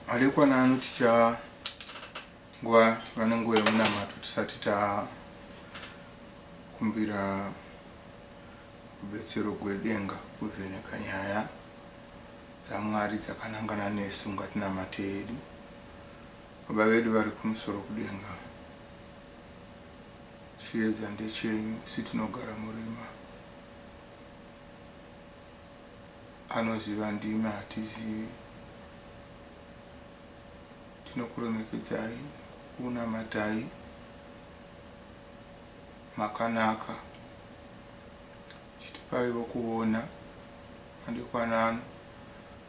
Madekwana ano ticha nguva vane nguva yemunamato tisati takumbira rubetsero gwedenga kuvheneka nyaya dzamwari dzakanangana nesu ngatinamate yedu baba vedu vari kumusoro kudenga chiedza ndechenyu isu tinogara murima anoziva ndimi hatizivi. Tinokuremekedzai nekukunamatai makanaka chitipaiwo kuona madekwana ano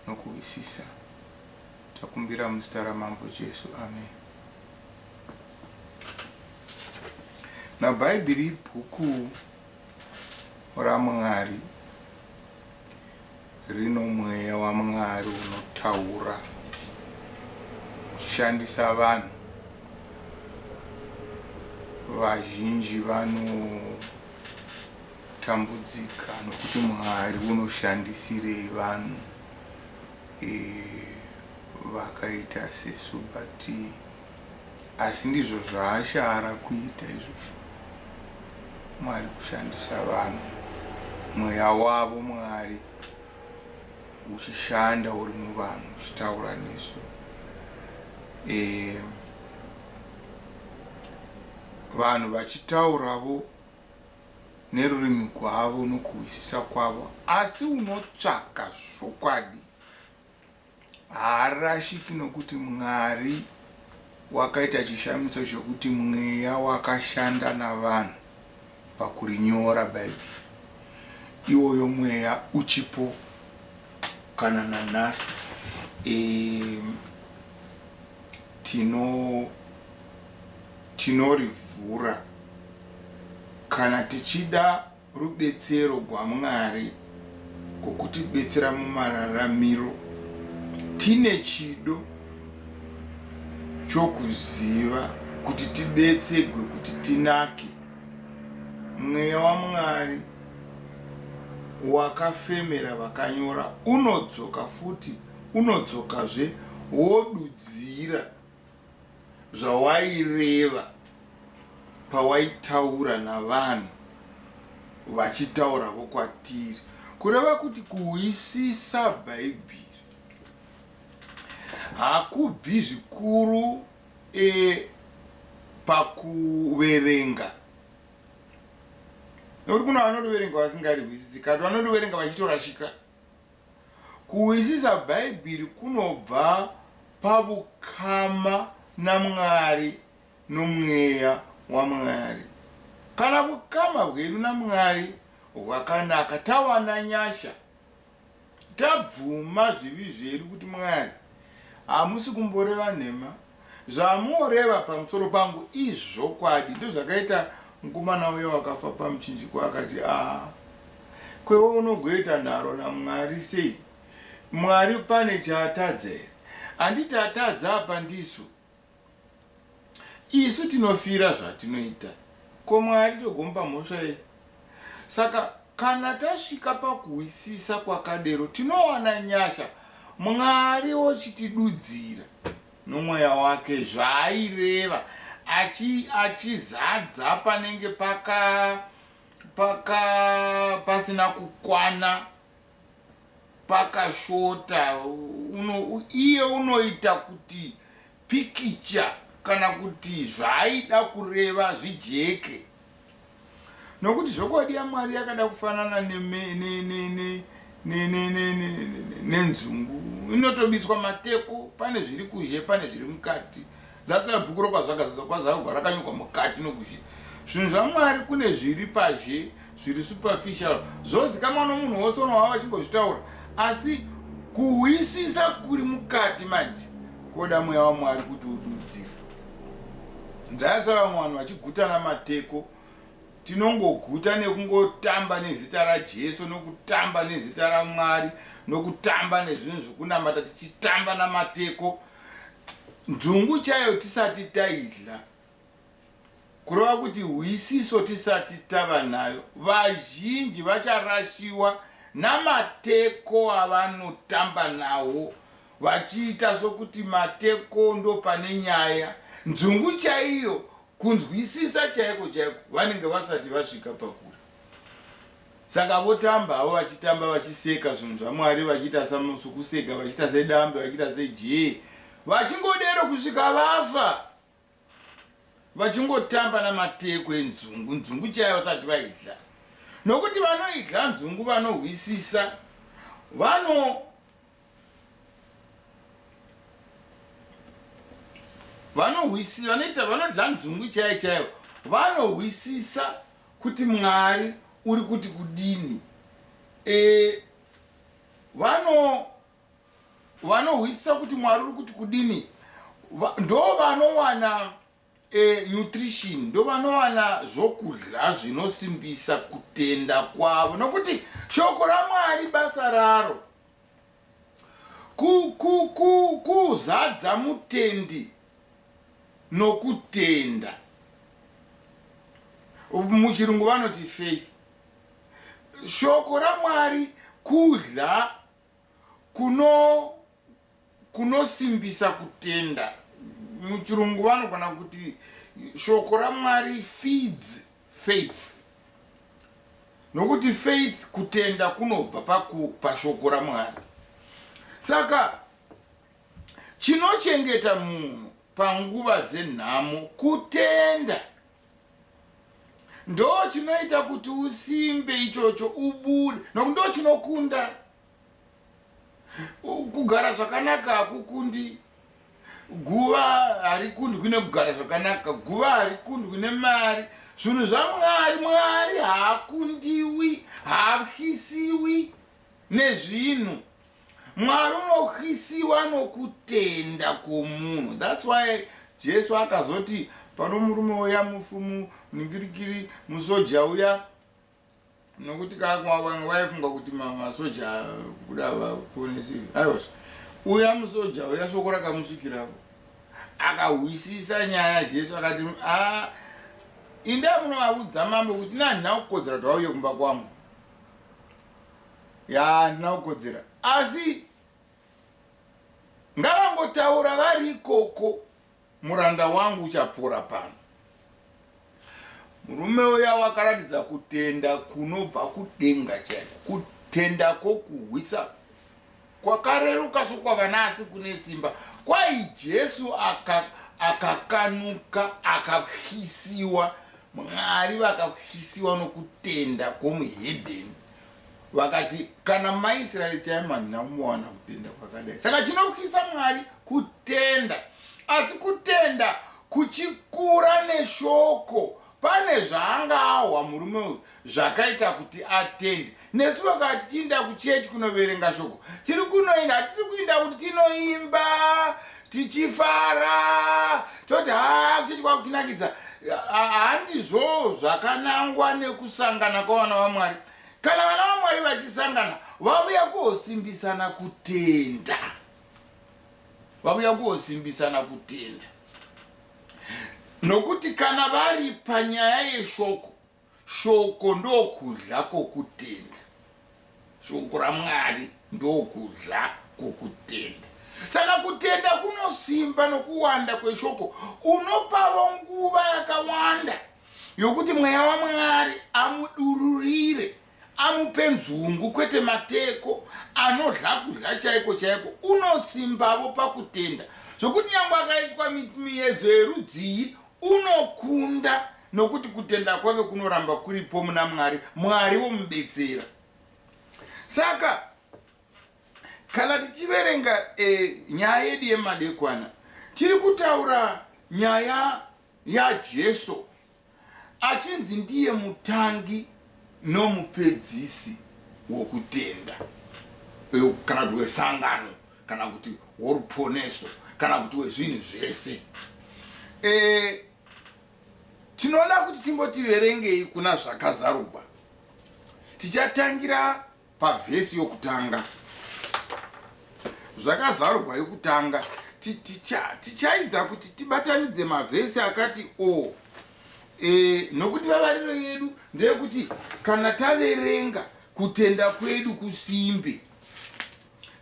nokuhwisisa takumbira muzita ramambo Jesu amen. Now Bhaibheri ibhuku raMwari rino mweya waMwari unotaura uchishandisa vanhu vazhinji vanotambudzika nokuti Mwari unoshandisirei vanhu e, vakaita sesu but Asi ndizvo zvaashara kuita izvozvo. Mwari kushandisa vanhu, mweya wavo Mwari uchishanda uri muvanhu uchitaura nesu. E, vanhu vachitauravo nerurimi gwavo nokuhwisisa kwavo, asi unotsvaka zvokwadi Haarashiki nokuti Mwari wakaita chishamiso chokuti mweya wakashanda navanhu pakurinyora Bhaibheri. Iwoyo mweya uchipo kana nanhasi. E, tino tinorivhura kana tichida. Rubetsero gwaMwari gokutibetsera mumararamiro tine chido chokuziva kuti tibetsegwe kuti tinake. Mweya waMwari wakafemera vakanyora unodzoka futi unodzokazve wodudzira. zvawaireva pawaitaura navanhu vachitauravo kwatiri kureva kuti kuhwisisa bhaibheri hakubvi zvikuru e, pakuverenga nekuti kuna vanoriverenga vasingarihwisisi kati vanoriverenga vachitorashika Kuhwisisa Bhaibheri kunobva pavukama naMwari noMweya waMwari. Kana vukama hwedu naMwari hwakanaka, tawana nyasha, tabvuma zvivi zvedu kuti Mwari, hamusi kumboreva nhema. Zvamoreva pamusoro pangu izvokwadi. Ndozvakaita mukomana uya wakafa pamuchinjikwa akati aa kwewe unogoita nharo naMwari sei? Mwari pane chaatadza here? Handiti atadza apa ndisu? Isu tinofira zvatinoita. Ko Mwari togomupa mhosva yei? Saka kana tasvika pakuhwisisa kwakadero, tinowana nyasha, Mwari ochitidudzira nomweya wake zvaaireva, achi, achizadza panenge paka, paka, pasina kukwana, pakashota. Uno, iye unoita kuti pikicha kana kuti zvaaida kureva zvijeke nokuti zvokwadi yamwari yakada kufanana nenzungu inotobiswa mateko pane zviri kuzhe pane zviri mukati dzatsoya bhuku rokwazvakazadzwa kwazakagwa rakanyogwa mukati nokuzhe zvinhu zvamwari kune zviri pazhe zviri superficial zvozikamwa nomunhu wose unovava vachingozvitaura asi kuhwisisa kuri mukati manje koda mweya wamwari kuti ududzire nzayasa vamwe vanhu vachigutana mateko tinongoguta nekungotamba nezita rajesu nokutamba nezita ramwari nokutamba nezvinhu zvekunamata tichitamba namateko nzungu chaiyo tisati taidla kureva kuti hwisiso tisati tava nayo, vazhinji vacharashiwa namateko avanotamba nawo vachiita sokuti mateko ndopane nyaya. Nzungu chaiyo, kunzwisisa chaiko chaiko, vanenge vasati vasvika pakure. Saka votamba havo vachitamba vachiseka zvinhu zvaMwari, vachiita sokuseka, vachiita sedambe, vachiita sejee, vachingodero kusvika vafa. vachingotamba namateko enzungu nzungu chaiyo vasati vaidla nokuti vanoidla nzungu vanohwisisa vano vanohwisisa vanoita vanodla nzungu chaiyo chaiyo vanohwisisa kuti mwari uri kuti kudini e, vano vanohwisisa kuti mwari uri kuti kudini ndo vanowana e, nutrition ndo vanowana zvokudya zvinosimbisa kutenda kwavo nokuti shoko ramwari basa raro kuzadza ku, ku, mutendi nokutenda muchirungu vanoti faith shoko ramwari kudya kuno kunosimbisa kutenda muchirungu vanogona kuti shoko ramwari feeds faith nokuti faith kutenda kunobva pashoko ramwari saka chinochengeta munhu panguva dzenhamo kutenda ndo chinoita kuti usimbe ichocho ubude noku ndo chinokunda kugara zvakanaka hakukundi guva harikundwi nekugara zvakanaka guva harikundwi nemari zvinhu zvamwari mwari haakundiwi haatyisiwi nezvinhu Mwari unohisiwa nokutenda kwomunhu. That's why Jesu akazoti pano murume uya mufumu ningirikiri musoja uya nokuti kakwavanga vaifunga kuti masoja kuda vaponesi aiwa uya musoja uya soko rakamusvikirako akahwisisa nyaya jesu akati a inda munovaudza mambo kuti nanhina kukodzera kuti vauye kumba kwangu yaa handina kukodzera asi ngavangotaura vari ikoko muranda wangu uchapora pano murume uya wakaratidza kutenda kunobva kudenga chaiko kutenda kwokuhwisa Kwakareruka sokwavana asi kune simba. Kwai Jesu aka akakanuka akatyisiwa mwari vakatyisiwa nokutenda kwomuhedheni vakati kana maisraeri chaivo handina kumbowana kutenda kwakadai saka chinotyisa mwari kutenda asi kutenda kuchikura neshoko Pane zvaanga ahwa murume uyu zvakaita kuti atende. Nesu vakava tichiinda kuchechi kunoverenga shoko, tiri kunoinda hatisi kuinda kuti tinoimba tichifara toti haa kuchechi kwakutinakidza. Handizvoo zvakanangwa nekusangana kwavana vaMwari. Kana vana vaMwari vachisangana, vavuya kuosimbisana kutenda. Vavuya kuosimbisana kutenda. Nokuti kana vari panyaya yeshoko, shoko ndokudya kwokutenda. Shoko raMwari ndokudya kwokutenda. Saka kutenda kunosimba nokuwanda kweshoko. Unopavo nguva yakawanda yokuti Mweya waMwari amudururire Amupe nzungu kwete mateko anodhla kudhla chaiko chaiko unosimbavo pakutenda zvekuti nyangwe akaiswa miedzo yerudzii unokunda nokuti kutenda kwake kunoramba kuripo muna Mwari, Mwari womubetsera. Saka kana tichiverenga e, nyaya yedu yemadekwana tiri kutaura nyaya yaJesu achinzi ndiye mutangi nomupedzisi wokutenda kana kuti wesangano kana kuti woruponeso kana kuti wezvinhu zvese e, tinoona kuti timbotiverengei kuna zvakazarugwa tichatangira Pavhesi yokutanga zvakazarugwa yokutanga tichaidza kuti tibatanidze mavhesi akati o e, nokuti vavariro yedu ndeyekuti kana taverenga kutenda kwedu kusimbe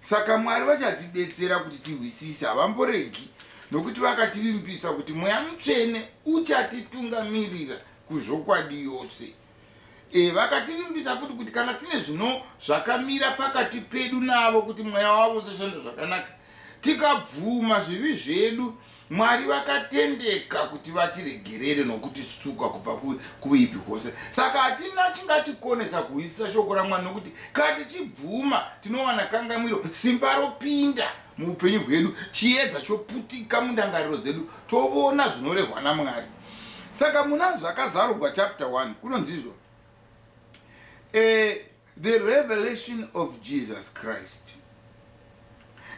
saka mwari vachatibetsera kuti tihwisise havamboregi nokuti vakativimbisa kuti mweya mutsvene uchatitungamirira kuzvokwadi yose E, vakativimbisa futi kuti kana tine zvino zvakamira pakati pedu navo kuti mweya wavo usashanda zvakanaka tikabvuma zvivi zvedu mwari vakatendeka kuti vatiregerere nokuti suka kubva kuipi hose saka hatina chingatikonesa kuhwisisa shoko ramwari nokuti kana tichibvuma tinowana kangamwiro simba ropinda muupenyu hwedu chiedza choputika mundangariro dzedu tovona zvinorehwa namwari Saka muna Zvakazarurwa chapter 1 kunonzizvo eh, the revelation of Jesus Christ.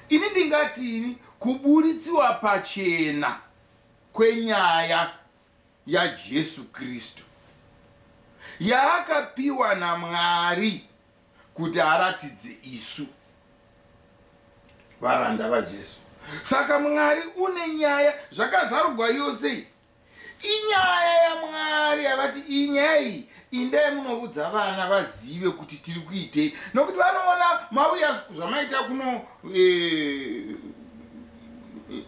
Ini ndingati ini kuburitsiwa pachena kwenyaya yaJesu Kristu yaakapiwa naMwari kuti aratidze isu varanda vaJesu. Saka Mwari une nyaya zvakazarugwa yose inyaya yaMwari yavati inyaya iyi indai munovudza vana vazive kuti tiri kuitei nokuti vanoona mauya zvamaita kuno e,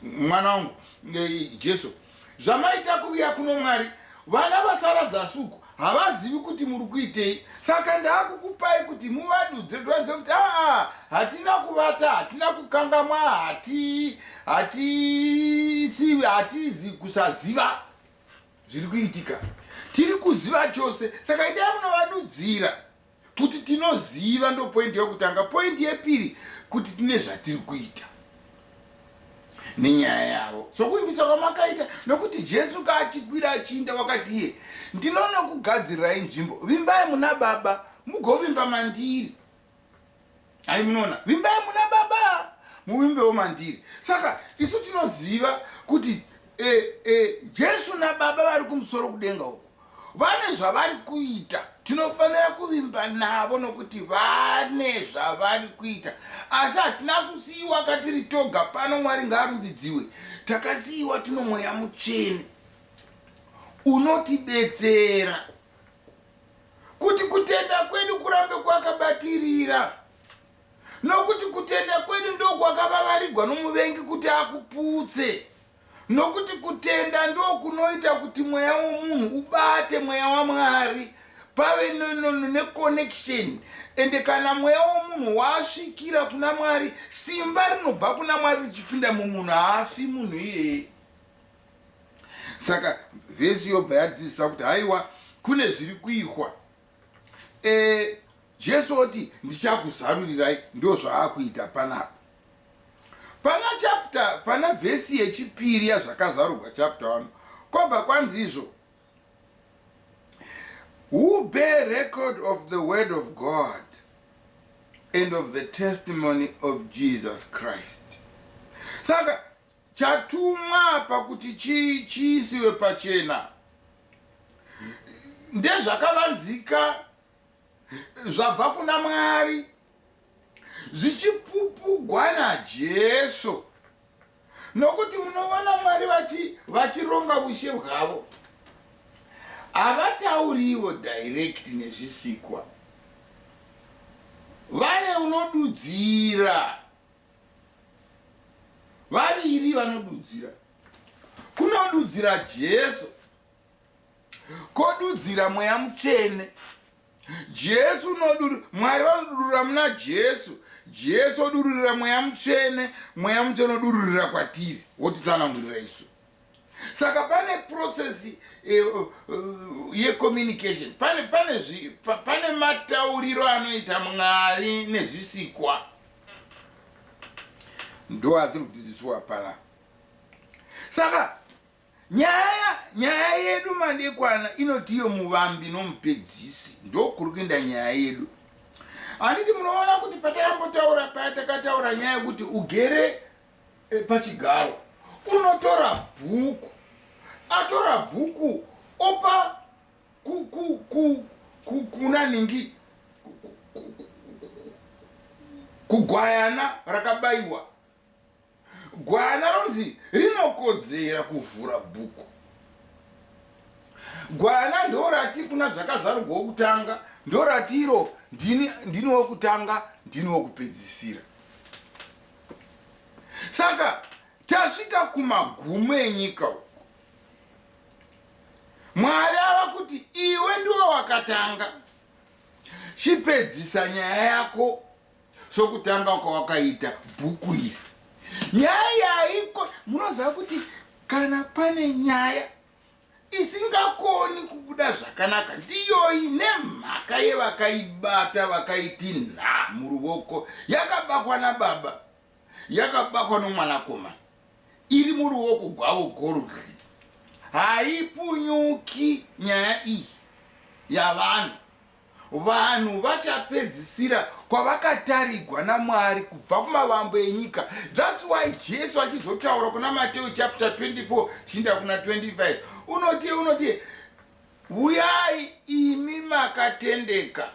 mwana wangu e, Jesu e, zvamaita kuviya kuno mwari vana vasara zasi uku havazivi kuti muri kuitei saka ndaakukupai kuti muvadudze dwazive kuti aa hatina kuvata hatina kukangamwa hati hatisivi hatizi kusaziva zviri kuitika tiri kuziva chose saka idai munovadudzira Kuti tinoziva ndopoindi yokutanga. Poindi yepiri kuti tine zvatiri kuita nenyaya yavo sokuimbisa kwamakaita nokuti jesu kaachikwira achiinda wakati iye ndinonokugadzirirai nzvimbo vimbai muna baba mugovimba mandiri hai munoona vimbai muna baba muvimbewo mandiri saka isu tinoziva kuti e, e, jesu nababa vari kumusoro kudenga uku vane zvavari kuita tinofanira kuvimba navo nokuti vane zvavari kuita asi hatina kusiyiwa katiri toga pano mwari ngaarumbidziwe takasiyiwa tinomweya mucheni unotibetsera kuti kutenda kwedu kurambe kwakabatirira, nokuti kutenda kwedu ndokwakavavarigwa nomuvengi kuti akuputse, nokuti kutenda ndokunoita kuti mweya womunhu ubate mweya waMwari pave neconnection ende kana mweya womunhu wasvikira kuna mwari simba rinobva kuna mwari richipinda mumunhu haafi munhu iyeye saka vhesi yobva yatidzidzisa kuti haiwa kune zviri kuihwa e, eh, jesu oti ndichakuzarurirai ndo zvaakuita panapa pana chapta pana vhesi yechipiri yazvakazarurwa chapta wano kwabva kwanzi izvo who bear record of the word of god and of the testimony of jesus christ saka Chatumwa apa kuti chiisiwe pachena ndezvakavanzika zvabva kuna Mwari zvichipupugwa naJesu nokuti munovona Mwari vachi vachironga ushe hwavo havatauriwo direct nezvisikwa vane unodudzira vaviri vanodudzira kunodudzira jesu kodudzira mweya mutsvene jesu unoduri mwari vanodururira muna jesu jesu odururira mweya mutsvene mweya mutsvene odururira kwatiri wotitsanangurira isu saka pane process eh, uh, uh, yecommunication pane pane zvi, pa, pane matauriro anoita mwari nezvisikwa ndo atiri kudzidziswa pana saka nyaya nyaya yedu madekwana inoti iyo muvambi nomupedzisi ndokuri kuenda nyaya yedu handiti munoona kuti patakambotaura paya takataura nyaya yekuti ugere e, pachigaro unotora bhuku atora bhuku opa ku, ku, ku, ku, kuna ningi kugwayana rakabayiwa gwayana ronzi rinokodzera kuvhura bhuku gwayana ndorati kuna zvakazarugwa wokutanga ndorati iro ndini wokutanga ndini wokupedzisira saka tasvika kumagumo enyika uku mwari ava kuti iwe ndiwo wakatanga chipedzisa nyaya yako sokutanga kwawakaita bhuku iri nyaya yaiko munoziva kuti kana pane nyaya isingakoni kubuda zvakanaka ndiyoyi nemhaka yevakaibata vakaiti nha muruoko yakabakwa nababa yakabakwa nomwanakomana iri muruoko gwavo gorudzi haipunyuki nyaya iyi yavanhu Vanhu vachapedzisira kwavakatarigwa naMwari kubva kumavambo enyika. That's why Jesu achizotaura kuna Mateo chapter 24 tichiinda kuna 25 unoti unoti huyai imi makatendeka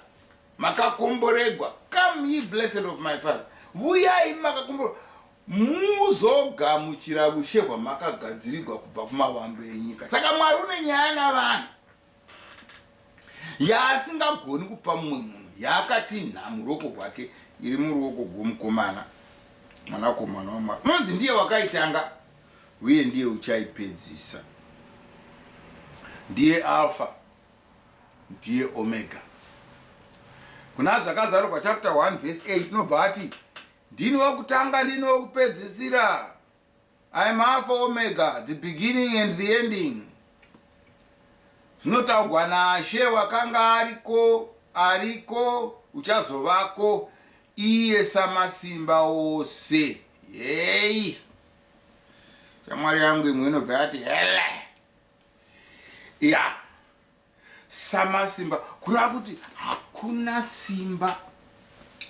makakomboregwa come ye blessed of my father huyai imi makakomboregwa muzogamuchira ushe hwamakagadzirigwa kubva kumavambo enyika saka mwari une nyaya navanhu yaasingagoni kupa mumwe munhu yaakati nhamu ruoko rwake iri muruoko gwomukomana mwanakomana wamwari unonzi ndiye wakaitanga uye ndiye uchaipedzisa ndiye alfa ndiye omega kuna zvakazarurwa chapter 1 vese 8 inobva ati ndini wokutanga ndini wokupedzisira I am Alpha Omega, the beginning and the ending. Zvinotaugwa naShe wakanga ariko, ariko, uchazovako, iye samasimba ose. Yei! Shamwari yangu imwe inobva yati, hele! Yeah. Samasimba kureva kuti hakuna simba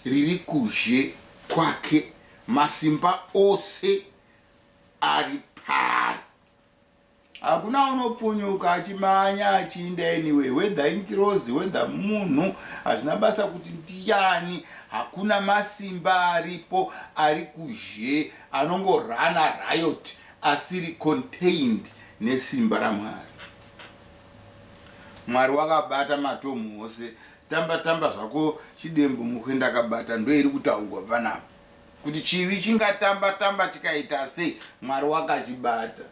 riri kuzhe kwake, masimba ose ari paari. Hakuna unopunyuka achimanya achiinda anyway, whether ingirozi whether munhu, hazvina basa kuti ndiyani, hakuna masimba aripo ari kuzhe anongorana riot asiri contained nesimba raMwari. Mwari wakabata matom ose. Tamba tamba zvako chidembo muhwi ndakabata ndoiri kutaugwa panapa kuti chivi chingatamba tamba chikaitasei mwari wakachibata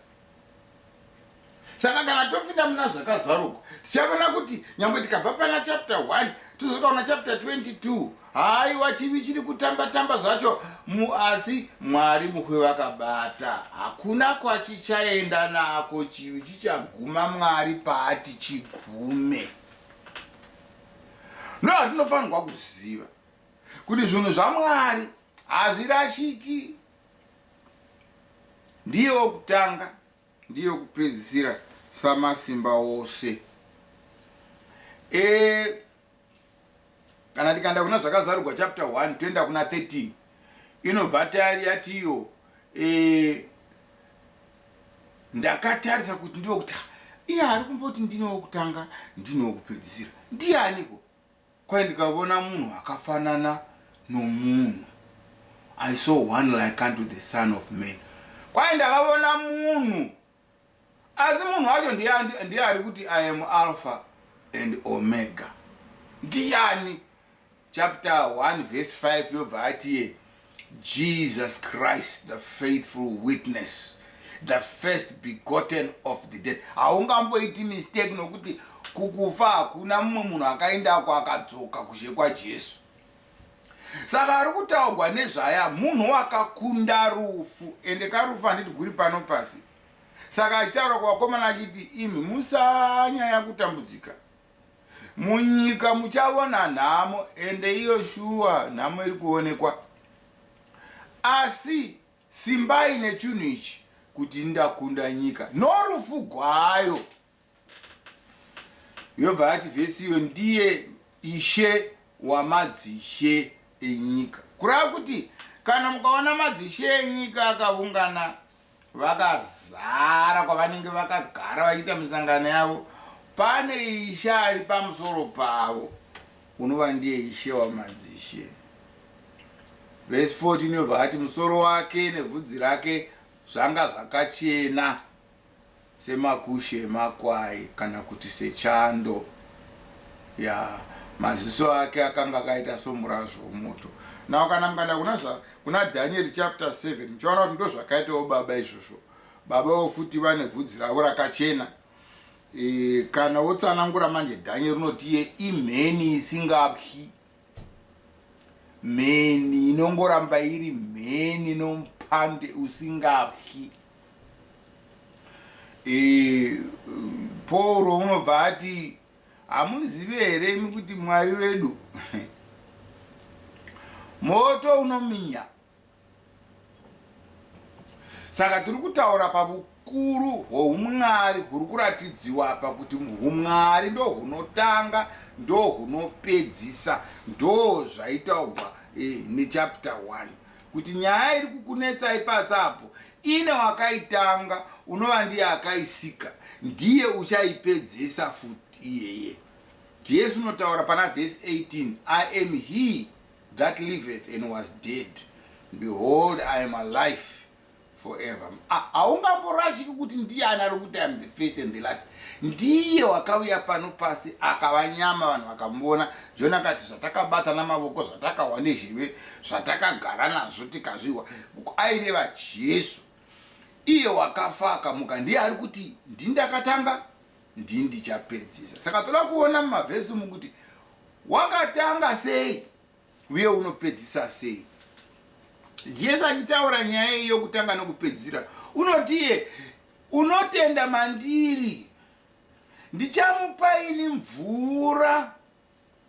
saka kana topinda muna zvakazaruka tichaona kuti nyangwe tikabva pana chapter 1 tozokaona chapter 22 haiwa chivi chiri kutamba tamba zvacho muasi mwari mukwe vakabata hakuna kwachichaenda nako chivi chichaguma mwari paati chigume ndo handinofanirwa kuziva kuti zvinhu zvamwari hazvirashiki ndiye wokutanga ndiye wokupedzisira samasimba ose e, kana tikaenda kuna zvakazarurwa chapter 1 toenda kuna 13 inobva tayari yati iyo e, ndakatarisa kuti ndiwo kuti iye ari kumboti ndine wokutanga ndine wokupedzisira ndiyaniko kwaye ndikavona munhu akafanana nomunhu i saw one like unto the son of man kwaye ndakavona munhu asi munhu wacho ndiye ari kuti i am alpha and omega ndiyani chapter 1 verse 5 yobva atiye jesus christ the faithful witness the first begotten of the dead haungamboiti mistake nokuti kukufa hakuna mumwe munhu akaendako akadzoka kuzhe kwajesu Saka ari kutaugwa nezvaya munhu wakakunda rufu ende karufu handiti guri pano pasi saka achitaura kuvakomana achiti imi musanyaya kutambudzika munyika muchavona nhamo ende iyo shuwa nhamo iri kuonekwa asi simbai nechunhu ichi kuti ndakunda nyika norufu gwayo yobva yati vhesi iyo ndiye ishe wamadzishe enyika kureva kuti kana mukaona madzishe enyika akavungana vakazara kwavanenge vakagara vachiita misangano yavo pane ishe ari pamusoro pavo unova ndiye ishe wamadzishe vhesi 14 yobva yati musoro wake nebvudzi rake zvanga zvakachena Semakushe emakwai kana kuti sechando. Yaa. Maziso ake akanga akaita somurazvo womoto. Now kana mukaenda kuna zva, kuna Dhanieri chapter 7 muchaona kuti ndozvakaitawo baba izvozvo. Babawo futi vane vhudzi ravo rakachena. E, kana wotsanangura manje Dhanieri unoti iye imheni isingabyi. mheni inongoramba iri mheni nompande usingapyi e, pauro unobva ati hamuzivi here imi kuti mwari wedu moto unominya Saka tiri kutaura pavukuru hwoumwari huri kuratidziwa apa kuti umwari ndohunotanga ndohunopedzisa ndozvaitaugwa eh, nechapter 1 kuti nyaya iri kukunetsai pasi apo ine wakaitanga unova ndiye akaisika ndiye uchaipedzisa futi iyeye jesu unotaura pana vhesi 18 i am he That liveth and was dead behold I am alive forever haungamborashiki kuti ndiye ani ari kuti am the first and the last ndiye wakauya pano pasi akava nyama vanhu vakamuona jona akati zvatakabata namavoko zvatakahwa nezheve zvatakagara nazvo tikazvihwa aireva jesu iye wakafa akamuka ndiye ari kuti ndindakatanga ndii ndichapedzisa saka toda kuona mumavhesi umu kuti wakatanga sei uye unopedzisa sei jesu achitaura nyaya iyi yokutanga nokupedzisira unotiye unotenda mandiri ndichamupa ini mvura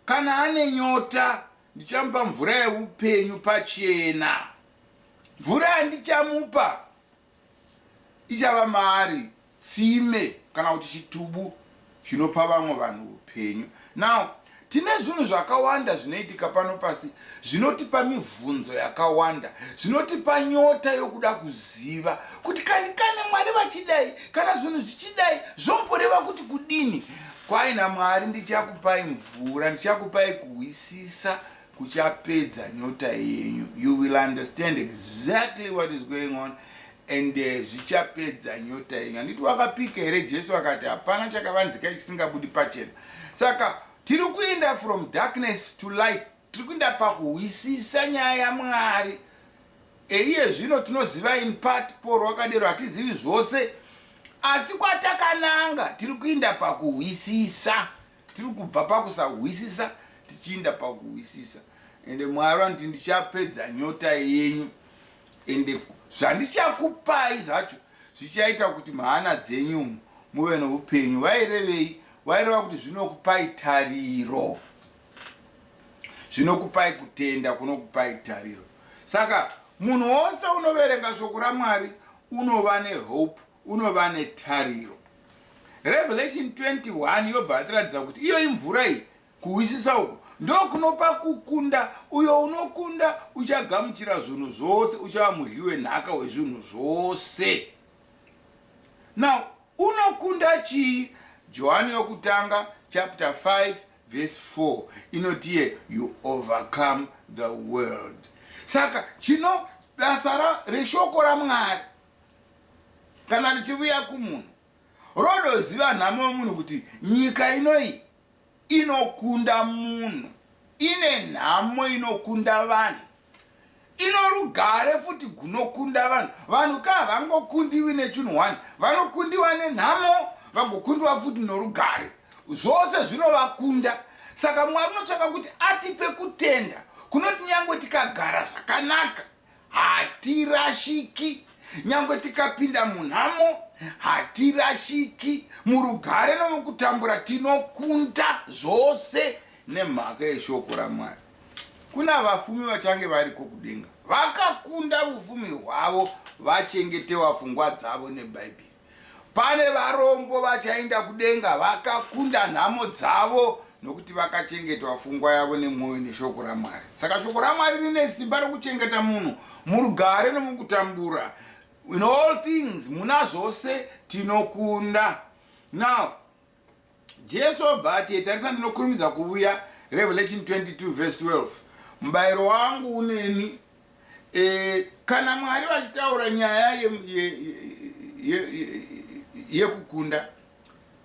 kana ane nyota ndichamupa mvura yeupenyu pachena mvura yandichamupa Ichava maari tsime kana kuti chitubu chinopa vamwe vanhu upenyu. Now, tine zvinhu zvakawanda zvinoitika pano pasi zvinotipa mivhunzo yakawanda, zvinotipa nyota yokuda kuziva kuti kani kana Mwari vachidai, kana zvinhu zvichidai zvomboreva kuti kudini. Kwai naMwari ndichakupai mvura, ndichakupai kuhwisisa kuchapedza nyota yenyu you will understand exactly what is going on and eh, zvichapedza uh, nyota yenyu handiti wakapika here jesu akati hapana chakavanzika chisingabudi pachena saka tiri kuenda from darkness to light tiri kuenda pakuhwisisa nyaya yamwari eiye zvino tinoziva in part paul wakadero hatizivi zvose asi kwatakananga tiri kuenda pakuhwisisa Tiri kubva pakusahwisisa tichiinda pakuhwisisa ende Mwari vanoti ndichapedza nyota yenyu ende zvandichakupai zvacho zvichaita kuti mhana dzenyu umu muve noupenyu vairevei vaireva kuti zvinokupai tariro zvinokupai kutenda kunokupai tariro saka munhu wose unoverenga shoko ramwari unova nehope unova netariro. Revelation 21 yobva yatiratidza kuti iyo imvura iyi kuhwisisa uku ndokunopa kukunda uyo unokunda uchagamuchira zvinhu zvose uchava mudyi wenhaka wezvinhu zvose now unokunda chii johani yokutanga chapter 5 verse 4 inotiye you overcome the world saka chino basa reshoko ramwari kana tichivuya kumunhu rodoziva nhamo yomunhu kuti nyika inoyi inokunda munhu ine nhamo inokunda vanhu ino rugare futi gunokunda vanhu vanhu ka havangokundiwi nechinhu one vanokundiwa nenhamo vagokundiwa futi norugare zvose zvinovakunda saka mwari unotsvaka kuti atipe kutenda kunoti nyangwe tikagara zvakanaka Hatirashiki nyangwe tikapinda munhamo hatirashiki murugare nomukutambura tinokunda zvose nemhaka yeshoko ramwari kuna vafumi vachange variko kudenga vakakunda vufumi hwavo vachengetewa fungwa dzavo nebhaibheri Pane varombo vachaenda kudenga vakakunda nhamo dzavo nokuti vakachengetwa fungwa yavo nemwoyo neshoko raMwari. Saka shoko raMwari rine simba rokuchengeta munhu murugare nomukutambura. In all things, muna zvose tinokunda. Now, Jesu obva ati, Tarisa ndinokurumidza kuvuya, Revelation 22 verse 12. Mubayiro wangu uneni, e, kana Mwari vachitaura nyaya yekukunda, ye, ye, ye, ye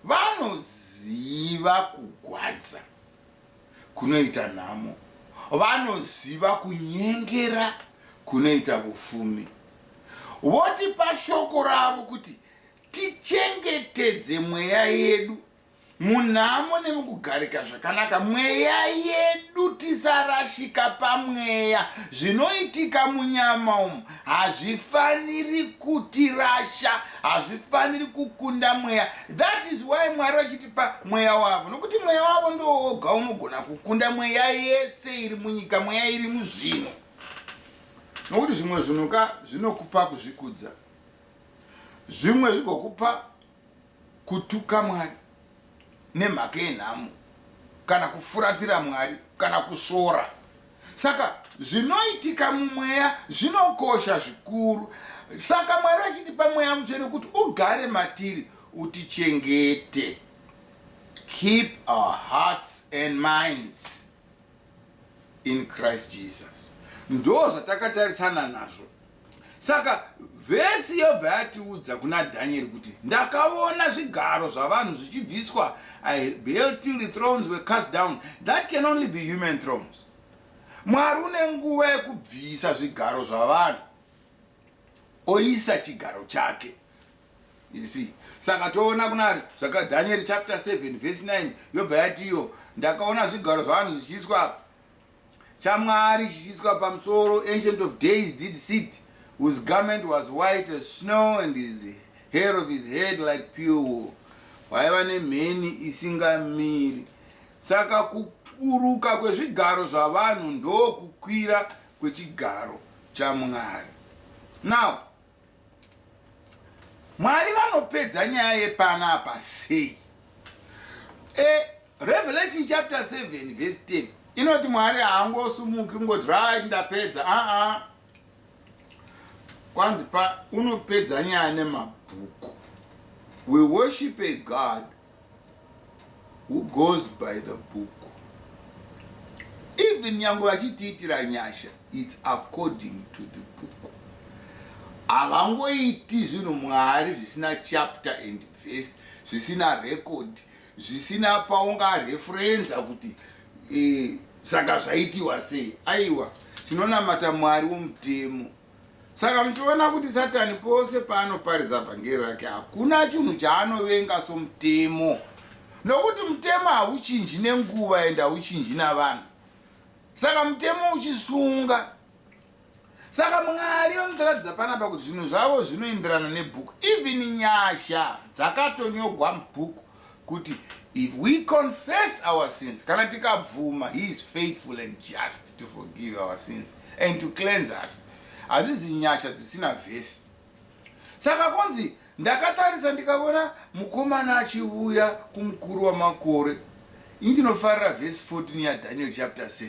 vanoziva kugwadza kunoita nhamo, vanoziva kunyengera kunoita vufumi, votipa shoko ravo kuti Tichengetedze mweya yedu munhamo nemukugarika zvakanaka mweya yedu tisarashika pamweya zvinoitika munyama umu hazvifaniri kutirasha hazvifaniri kukunda mweya that is why mwari vachitipa mweya wavo nokuti mweya wavo ndooga unogona kukunda mweya yese iri munyika mweya iri muzvinhu nokuti zvimwe zvinhu ka zvinokupa kuzvikudza zvimwe zvigokupa kutuka mwari nemhaka yenhamo kana kufuratira mwari kana kusvora saka zvinoitika mumweya zvinokosha zvikuru saka mwari achitipa mweya mutsvene kuti ugare matiri utichengete keep our hearts and minds in Christ Jesus. Ndo zvatakatarisana nazvo. Saka vhesi yobva yatiudza kuna Daniel kuti ndakaona zvigaro zvavanhu zvichibviswa I beheld till the thrones were cast down. That can only be human thrones. Mwari une nguva yekubvisa zvigaro zvavanhu oisa chigaro chake. You see? Saka toona kunari zvaka Daniel chapter 7 verse 9 yobva yati iyo ndakaona zvigaro zvavanhu zvichiiswa apa chaMwari chichiiswa pamusoro ancient of days did sit whose garment was white as snow and his hair of his head like pure wool waiva nemheni isingamiri saka kuburuka kwezvigaro zvavanhu ndokukwira kwechigaro chaMwari now Mwari vanopedza nyaya yepana apa sei? E, Revelation chapter 7 verse 10 inoti Mwari haangosumuki kungoti right ndapedza aa ah, ah. kwanzi pa unopedza nyaya nemabhuku we worship a God who goes by the book even nyangwe vachitiitira nyasha its according to the book havangoiti zvinhu mwari zvisina chapter and vest zvisina record zvisina paungareferenza kuti e, saka zvaitiwa sei aiwa tinonamata mwari womutemo Saka muchiona kuti Satani pose paanoparidza vhangeri rake hakuna chinhu chaanovenga somutemo, nokuti mutemo hauchinji nenguva ende hauchinji navanhu. Saka mutemo uchisunga. Saka Mwari vanotoratidza panapa kuti zvinhu zvavo zvinoenderana nebhuku, even nyasha dzakatonyogwa mubhuku kuti if we confess our sins kana tikabvuma he is faithful and just to forgive our sins and to cleanse us hazizi nyasha dzisina vhesi saka kunzi ndakatarisa ndikavona mukomana achivuya kumukuru wamakore indinofarira vhesi 14 yadaniel chapter 7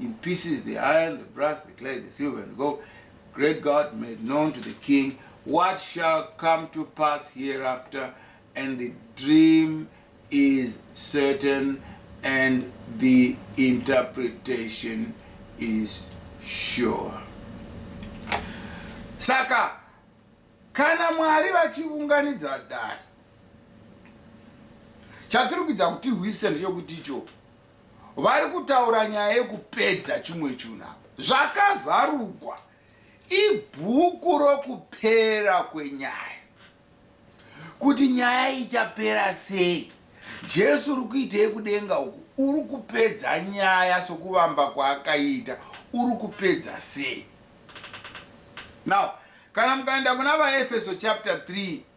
in pieces the iron, the brass, the clay, the silver, and the gold. Great God made known to the king what shall come to pass hereafter, and the dream is certain, and the interpretation is sure. Saka, kana mwari vachiunganidza dare chatirikudza kuti hwise ndechokuti ichoo vari kutaura nyaya yekupedza chimwe chunhu apa zvakazarugwa ibhuku rokupera kwenyaya kuti nyaya ichapera sei jesu uri kuitei kudenga uku uri kupedza nyaya sokuvamba kwaakaita uri kupedza sei now kana mukaenda kuna vaefeso chapter 3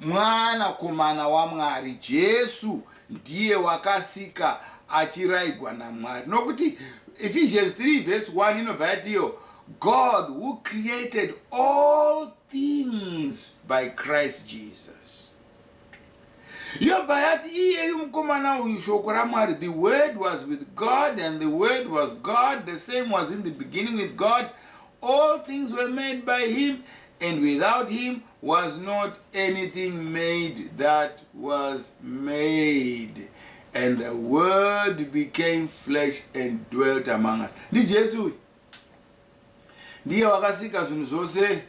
Mwana komana waMwari, Jesu ndiye wakasika achiraigwa naMwari. Nokuti Ephesians 3 verse 1 inobva yatiyo, God who created all things by Christ Jesus. Yobva yati iyeyu mukomana uyu shoko raMwari, the word was with God and the word was God, the same was in the beginning with God, all things were made by him And without him was not anything made that was made and the word became flesh and dwelt among us ndi jesu uyu ndiye wakasika zvinhu zvose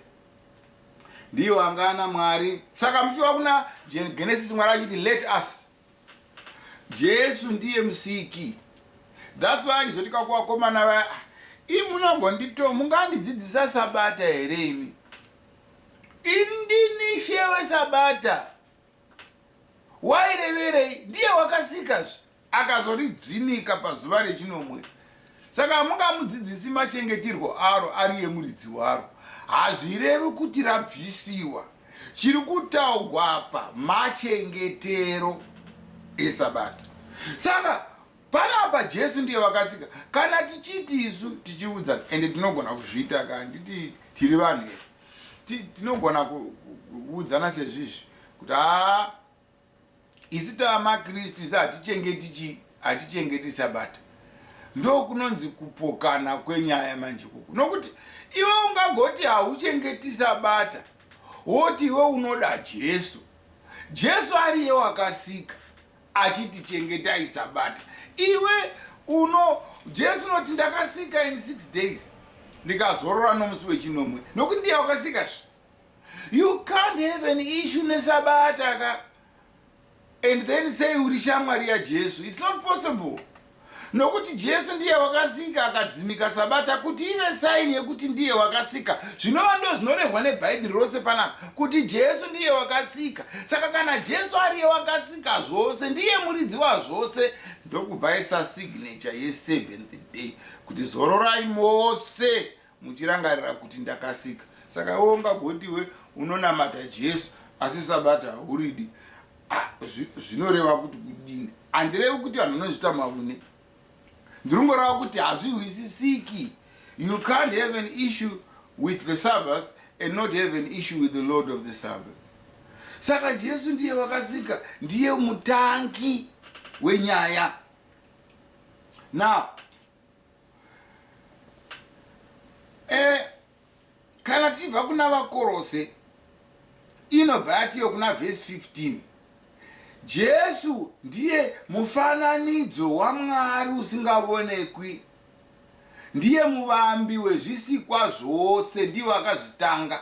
ndiye wangana mwari saka muchiwa kuna genesis mwari achiti let us Jesu ndiye musiki. That's why achizoti kwakuvakomana vaya ah, imunambondito mungandidzidzisa sabata here imi indini shewe sabata waireverei ndiye wakasikazve akazoridzinika pazuva rechinomwe Saka hamungamudzidzisi machengeterwo aro ari emuridzi waro. Hazvirevi kuti rabvisiwa. Chiri kutaugwa apa machengetero eSabata. Saka panapa Jesu ndiye vakasika. Kana tichiti isu tichiudzana ende tinogona kuzviita ka handiti tiri vanhu here? Tinogona kuudzana sezvizvi kuti haa Isu tava maKristu, isu hatichengeti chii? Hatichengeti Sabata. Ndokunonzi kupokana kwenyaya manje kuku. Nokuti iwe ungagoti hauchengeti Sabata, woti iwe unoda Jesu. Jesu ariye wakasika achiti chengetai Sabata. Iwe uno, Jesu unoti ndakasika in six days, ndikazorora nomusi wechinomwe. Nokuti ndiye wakasika zve. You can't have an issue nesabata ka and then say uri shamwari yaJesu. It's not possible. Nokuti Jesu ndiye wakasika akadzimika sabata kuti ive saini yekuti ndiye wakasika. Zvinova ndo zvinorehwa neBhaibheri rose panapa kuti Jesu ndiye wakasika. Saka kana Jesu ariye wakasika zvose, ndiye muridzi wazvose, ndokubva isa signature ye seventh day kuti zororai mose Muchirangarira kuti ndakasika. Saka iwe ungagoti iwe unonamata Jesu asi sabata hauridi. Ah, zvinoreva kuti kudini? Handirevi kuti vanhu vanozvita mavune. Ndiringoreva kuti hazvihwisisiki. You can't have an issue with the Sabbath and not have an issue with the Lord of the Sabbath. Saka Jesu ndiye wakasika, ndiye mutangi wenyaya. Now, Eh, kana tichibva kuna vakorose inobva yatiyo kuna vhesi 15 jesu ndiye mufananidzo wamwari usingavonekwi ndiye muvambi wezvisikwa zvose ndivo akazvitanga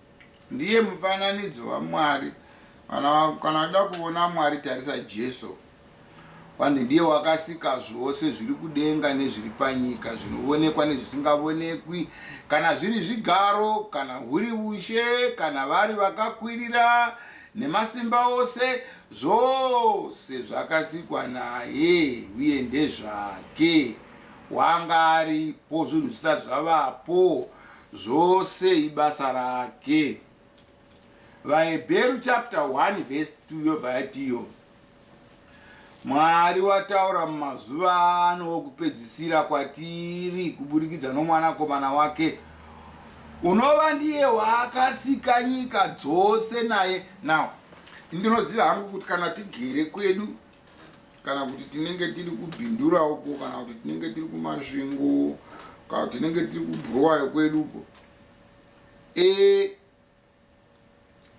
Ndiye mufananidzo waMwari. Kana kana uda kuona Mwari tarisa Jesu. Kwani ndiye wakasika zvose zviri kudenga nezviri panyika zvinoonekwa nezvisingavonekwi kana zviri zvigaro kana huri ushe kana vari vakakwirira nemasimba ose zvose zvakasikwa naye uye ndezvake wanga aripo zvinhu zvisati zvavapo Zvose ibasa rake. VaHebheru chapter 1 verse 2 yobva yati iyo Mwari wataura mumazuva ano wokupedzisira kwatiri kuburikidza nomwanakomana wake unova ndiye waakasika nyika dzose naye now ndinoziva hangu kuti kana tigere kwedu kana kuti tinenge tiri kubhindura uko kana kuti tinenge tiri kumasvingo kana kuti tinenge tiri kubhurowayo kwedu uko e,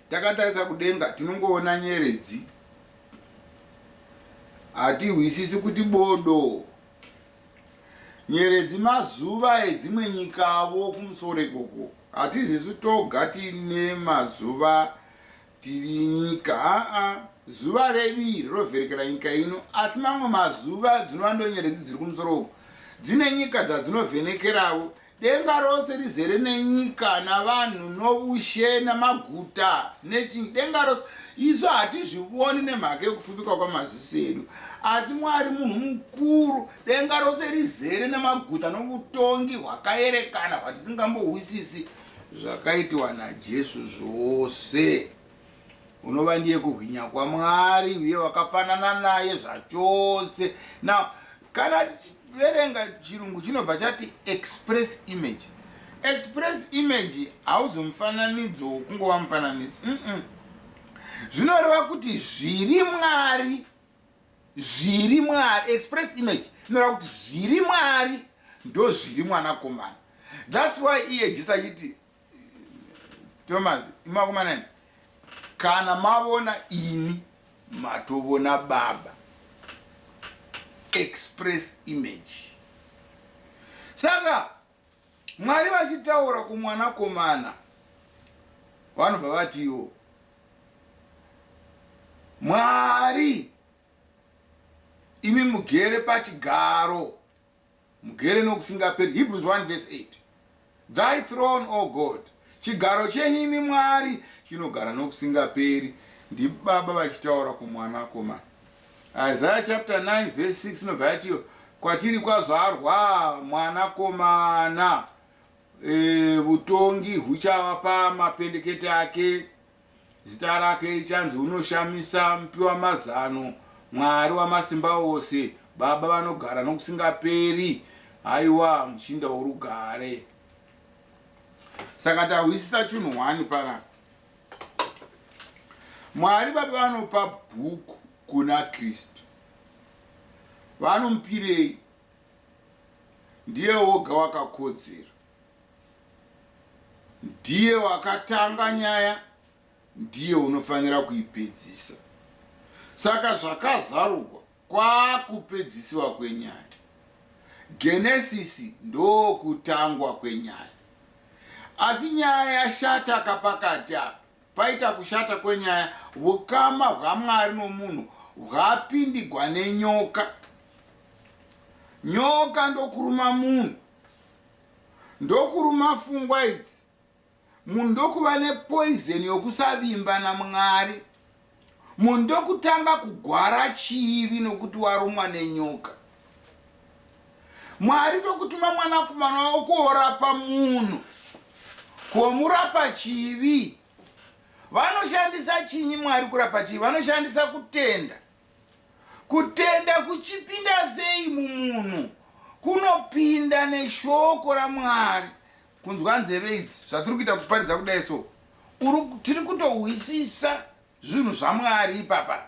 takatarisa kudenga tinongoona nyeredzi hatihwisisi kuti bodo nyeredzi mazuva edzimwe nyikavo kumusoro ikoko hatizisu toga tine mazuva Tiri nyika haa zuva redu iri rovherekera nyika ino asi mamwe mazuva dzinova ndonyeredzi dziri kumusoro uku dzine nyika dzadzinovhenekeravo denga rose rizere nenyika navanhu noushe namaguta nechii denga rose isu hatizvivoni nemhaka yekufupika kwamaziso edu asi mwari munhu mukuru denga rose rizere nemaguta novutongi hwakaerekana hwatisingambohwisisi Zvakaitwa naJesu zvose. Unova ndiye kuhwinya kwaMwari uye wakafanana naye zvachose. Now, kana tichiverenga chirungu chinobva chati express image. Express image hauzi mufananidzo wokungova mufananidzo. Mm -mm. Zvinoreva kuti zviri Mwari Zviri Mwari, express image, inoreva kuti zviri Mwari ndozviri mwanakomana. That's why iye Jesu achiti, Thomas, imakomana ini, kana mavona ini matovona Baba. Express image. Saka Mwari vachitaura kumwanakomana vanobva vatiwo Mwari imi mugere pachigaro mugere nokusingaperi Hebrews 1 verse 8 Thy throne O God chigaro chenyu imi Mwari chinogara nokusingaperi ndibaba vachitaura kumwanakomana Isaiah chapter 9 verse 6 inobva yatiyo kwatiri kwazvarwa mwana komana vutongi e, huchava pamapendekete ake zita rake richanzi unoshamisa mupiwa mazano mwari wamasimba ose baba vanogara nokusingaperi haiwa muchinda worugare saka tahwisisa chunhu hwani panapa Mwari vapi vanopa bhuku kuna Kristu? Vanomupirei? Ndiye woga wakakodzera. Ndiye wakatanga nyaya, ndiye unofanira kuipedzisa. Saka zvakazarugwa Kwakupedzisiwa kwenyaya. Genesisi ndokutangwa kwenyaya. Asi nyaya yashata ka pakati apa. Paita kushata kwenyaya, vukama hwaMwari nomunhu hwapindigwa nenyoka. Nyoka ndokuruma munhu. Ndokuruma fungwa idzi. Munhu ndokuva nepoizeni yokusavimba naMwari. Munhu ndokutanga kugwara chivi nokuti warumwa nenyoka. Mwari ndokutuma mwanakomana wavo kuorapa munhu, kuomurapa chivi. Vanoshandisa chinyi Mwari kurapa chivi? Vanoshandisa kutenda. Kutenda kuchipinda sei mumunhu? Kunopinda neshoko raMwari. kunzwa nzeve idzi zvatiri kuita kuparidza kudai so tiri kutohwisisa zvinhu zvamwari ipapa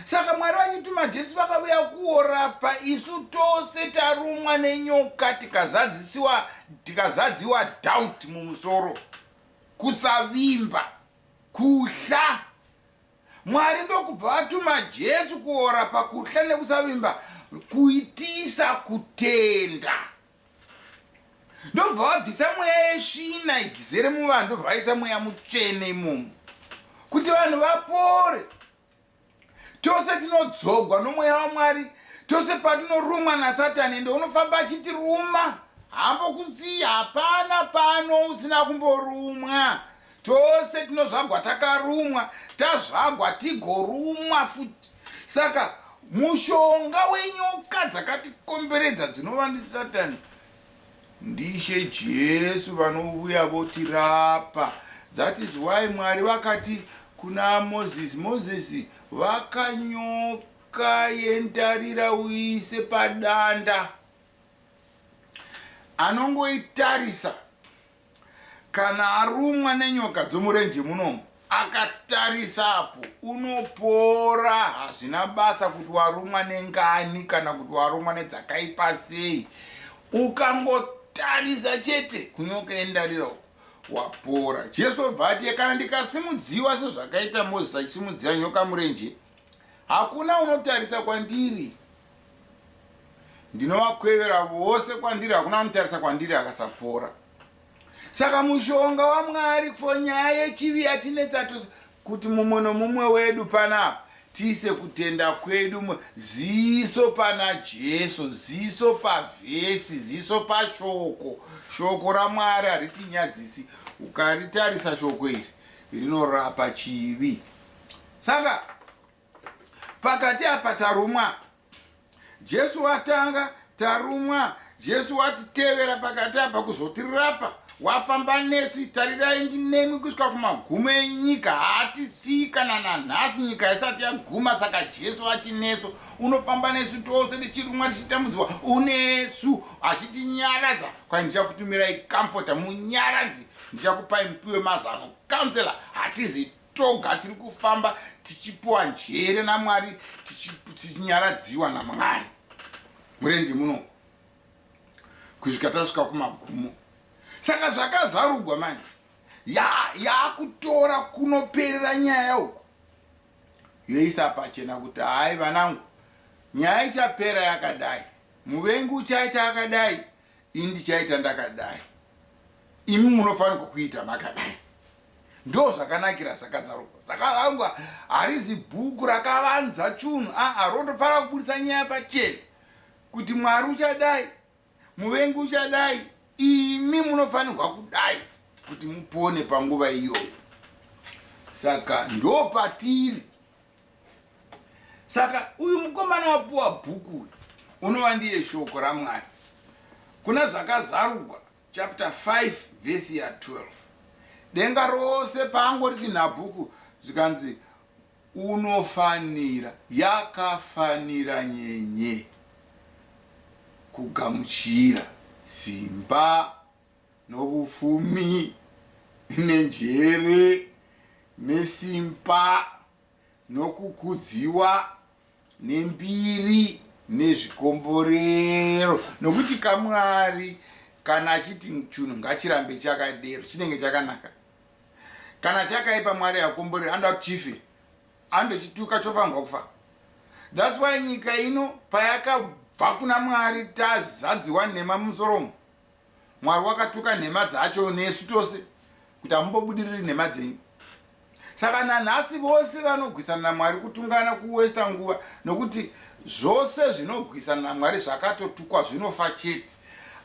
saka mwari vachituma jesu vakavuya kuorapa isu tose tarumwa nenyoka tikazadzisiwa tikazadziwa doubt mumusoro kusavimba kuhla mwari ndokubva vatuma jesu kuorapa kuhla nekusavimba kuitisa kutenda ndobva vabvisa mweya yesvina igizere muvanhu ndobva vaisa mweya mutsvene imomo kuti vanhu vapore tose tinodzogwa nomweya wamwari tose patinorumwa nasatani ende unofamba achitiruma hambo kusiya hapana pano usina kumborumwa tose tinozvagwa takarumwa tazvagwa tigorumwa futi saka mushonga wenyoka dzakatikomberedza dzinova ndisatani ndishe jesu vanouya votirapa that is why mwari vakati kuna moses moses vakanyoka yendarira uise padanda anongoitarisa Kana arumwa nenyoka dzomurenje munomu akatarisa apo unopora hazvina basa kuti warumwa nengani kana kuti warumwa nedzakaipa sei ukangotarisa chete kunyoka endarira uko wapora jesu obva ati kana ndikasimudziwa sezvakaita mozisi achisimudzira nyoka murenje hakuna unotarisa kwandiri ndinovakwevera vose kwandiri hakuna anotarisa kwandiri akasapora saka mushonga wamwari for nyaya yechivi yatinetsa tose kuti mumwe nomumwe wedu panapa tiise kutenda kwedu ziso pana jesu ziso pavhesi ziso pashoko shoko ramwari haritinyadzisi ukaritarisa shoko iri rinorapa chivi saka pakati apa tarumwa jesu watanga tarumwa jesu watitevera pakati apa kuzotirapa wafamba nesu tarirai ndinemi kusvika kumagumo enyika hatisii kana nanhasi nyika isati yaguma saka jesu achinesu unofamba nesu tose tichirumwa tichitambudzwa unesu achitinyaradza kwai ndichakutumirai comforta munyaradzi ndichakupai mupiwe mazano councela hatizi toga tiri kufamba tichipiwa njere namwari tichinyaradziwa namwari murenje muno kusvika tasvika kumagumo saka zvakazarugwa manje yaakutora ya kunoperera nyaya uku yoisa pachena kuti hayi vanangu nyaya ichapera yakadai muvengi uchaita akadai ini ndichaita ndakadai imi munofanirwa kuita makadai ndo zvakanakira zvakazarurwa zvakarangwa harizi bhuku rakavanza chunhu aa rotofanira kuburitsa nyaya pachena kuti mwari uchadai muvengi uchadai imi munofanirwa kudai kuti mupone panguva iyoyo saka ndo patiri saka uyu mukomana wapuwa bhuku uyu unova ndiye shoko ramwari kuna zvakazarugwa chapter 5 vhesi ya 12 denga rose paangori chinhabhuku zvikanzi unofanira yakafanira nyenye kugamuchira simba nokufumi nenjere nesimba Nokukudziwa nembiri nezvikomborero, nokuti kamwari kana achiti chunhu ngachirambe chakadero chinenge chakanaka. Kana chakaipa mwari hakomborero anoda kuti chife. Andochituka chofanirwa kufa. That's why nyika ino payakabva kuna mwari tazadziwa nhema mumusoro umu. Mwari wakatuka nhema dzacho nesu tose kuti hamumbobudiriri nhema dzenyu. Saka nanhasi vose vanogwisana naMwari kutungana kuwesta nguva nokuti zvose zvinogwisana naMwari zvakatotukwa zvinofa chete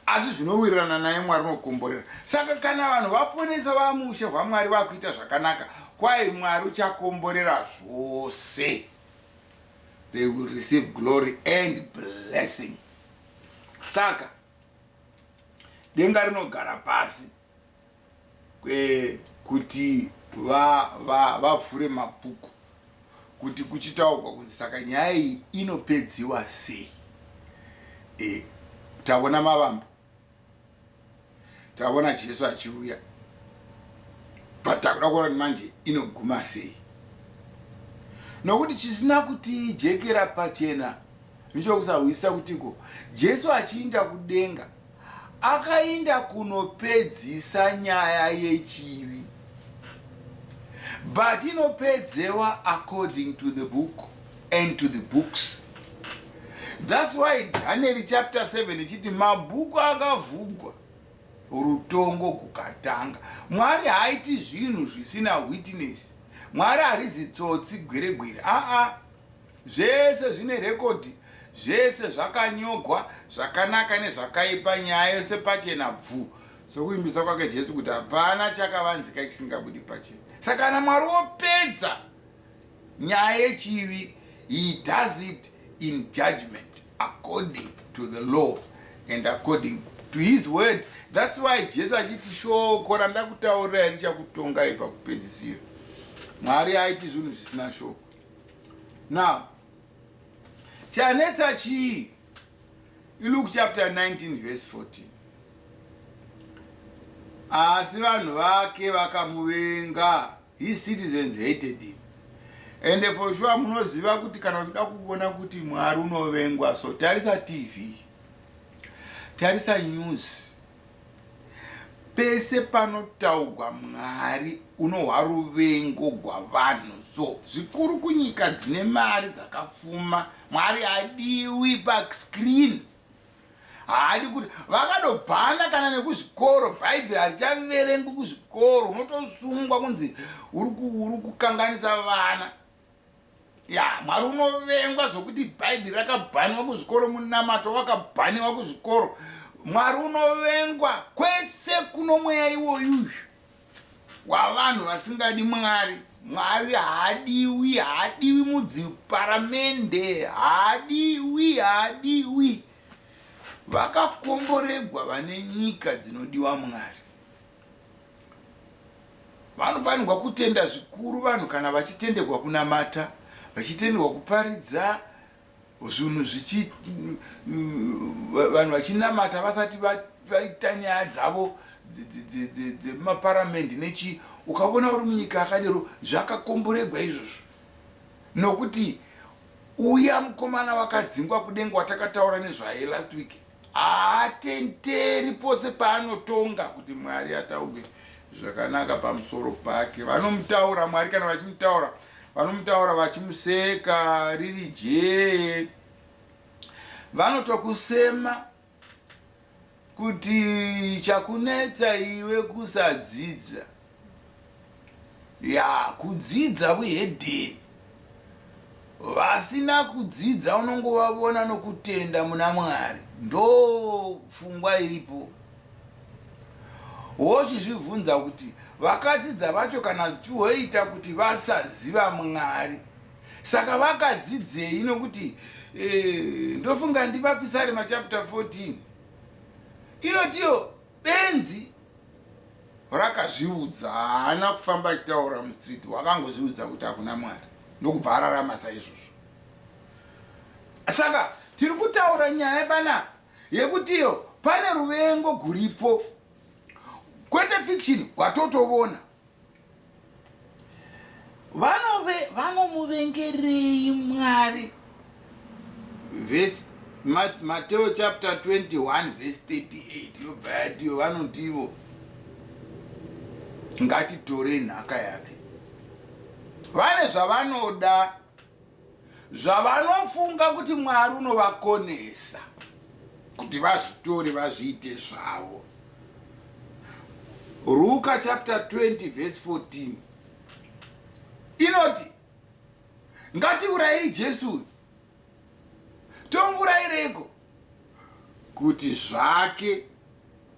asi zvinowirirana naye Mwari unokomborera. Saka kana vanhu vaponesa vamushe hwaMwari vakuita zvakanaka kwaye Mwari uchakomborera zvose. They will receive glory and blessing. Saka denga rinogara pasi eh, kuti vavhure va, va mabhuku kuti kuchitaurwa kunzi saka nyaya iyi inopedziwa sei e, tavona mavambo tavona jesu achiuya but takuda kuona kuti manje inoguma sei nokuti chisina kuti jekera pachena Nechokusahwisisa kutiko, Jesu achiinda kudenga akainda kunopedzisa nyaya yechivi but inopedzewa according to the book and to the books thats why daniel chapter 7 ichiti mabhuku akavhugwa rutongo kukatanga mwari haaiti zvinhu zvisina witness mwari harizi tsotsi gweregwere aa ah, ah. Zvese zvine record zvese zvakanyogwa zvakanaka nezvakaipa nyaya yose pachena bvu sokuimbisa kwake Jesu kuti hapana chakavanzika chisingabudi pachena saka kana Mwari wopedza nyaya yechivi he does it in judgment according to the law and according to his word that's why Jesu achiti shoko randakutaurira richakutongai pakupedzisira Mwari aiti zvinhu zvisina shoko now chanetsa chii iluke chapter 19 verse 14 asi vanhu vake vakamuvenga his citizens hated him ende for sure munoziva kuti kana uchida kuona kuti mwari unovengwa so tarisa tv tarisa news Pese panotaugwa Mwari unohwa ruvengo gwavanhu so zvikuru kunyika dzine mari dzakafuma Mwari hadiwi pa screen haadi kuti vakadobhana kana nekuzvikoro bhaibheri harichaverengwi kuzvikoro unotosungwa kunzi uri kukanganisa vana ya mwari unovengwa zvokuti bhaibheri rakabhaniwa kuzvikoro munamato wakabhaniwa kuzvikoro mwari unovengwa kwese kuno mweya iwoyuyu wavanhu vasingadi mwari mwari haadiwi haadiwi mudziparamende haadiwi haadiwi vakakomboregwa vane nyika dzinodiwa mwari Vanofanirwa kutenda zvikuru vanhu kana vachitenderwa kunamata, vachitenderwa kuparidza zvinhu zvichi vanhu vachinamata vasati vaita nyaya dzavo dzemaparamende nechii. Ukavona uri munyika yakadero zvakakomboregwa izvozvo nokuti uya mukomana wakadzingwa kudenga watakataura nezvaye last week. Haatenderi pose paanotonga kuti Mwari atauge zvakanaka pamusoro pake. Vanomutaura Mwari kana vachimutaura vanomutaura vachimuseka riri jee. Vanotokusema kuti chakunetsa iwe kusadzidza. ya kudzidza vuhedheni vasina kudzidza unongovavona nokutenda muna mwari ndo pfungwa iripo wochizvibvunza kuti vakadzidza vacho kana zvichihoita kuti vasaziva mwari saka vakadzidzei nokuti eh, ndofunga ndivapisari machapta 14 inotiyo Benzi rakazviudza haana kufamba achitaura mustreet wakangozviudza kuti hakuna mwari ndokubva ararama saizvozvo saka tiri kutaura nyaya panapa yekutiyo pane ruvengo guripo kwete fiction kwatotovona vanomuvengerei mwari mateo chapter 21 verse 38 yobva yatiyo vanotivo ngatitore nhaka yake vane zvavanoda zvavanofunga kuti mwari unovakonesa kuti vazvitore vazviite zvavo ruka chapter 20 verse 14 inoti ngatiurayei jesu uyu tomuurayireiko kuti zvake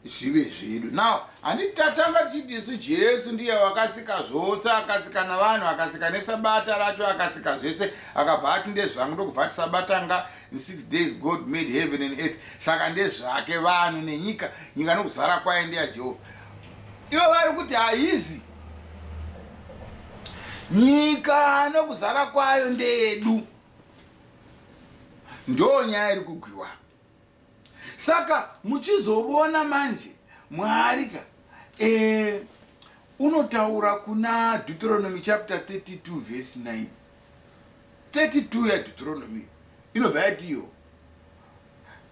zvive zvedu now handi tatanga tichiti isu jesu ndiye wakasika zvose akasika navanhu akasika nesabata racho akasika zvese akabva ati ndezvangu ndokubva ati sabata nga in six days god made heaven and earth saka ndezvake vanhu nenyika nyika nokuzara kwaye ndeya jehovha ivo vari kuti haizi nyika nokuzara kwayo ndeyedu ndoo nyaya iri kugwiwa saka muchizovona manje mwari ka e, unotaura kuna deuteronomy chapter 32 verse 9 32 yadeutoronomy inobva yatiyo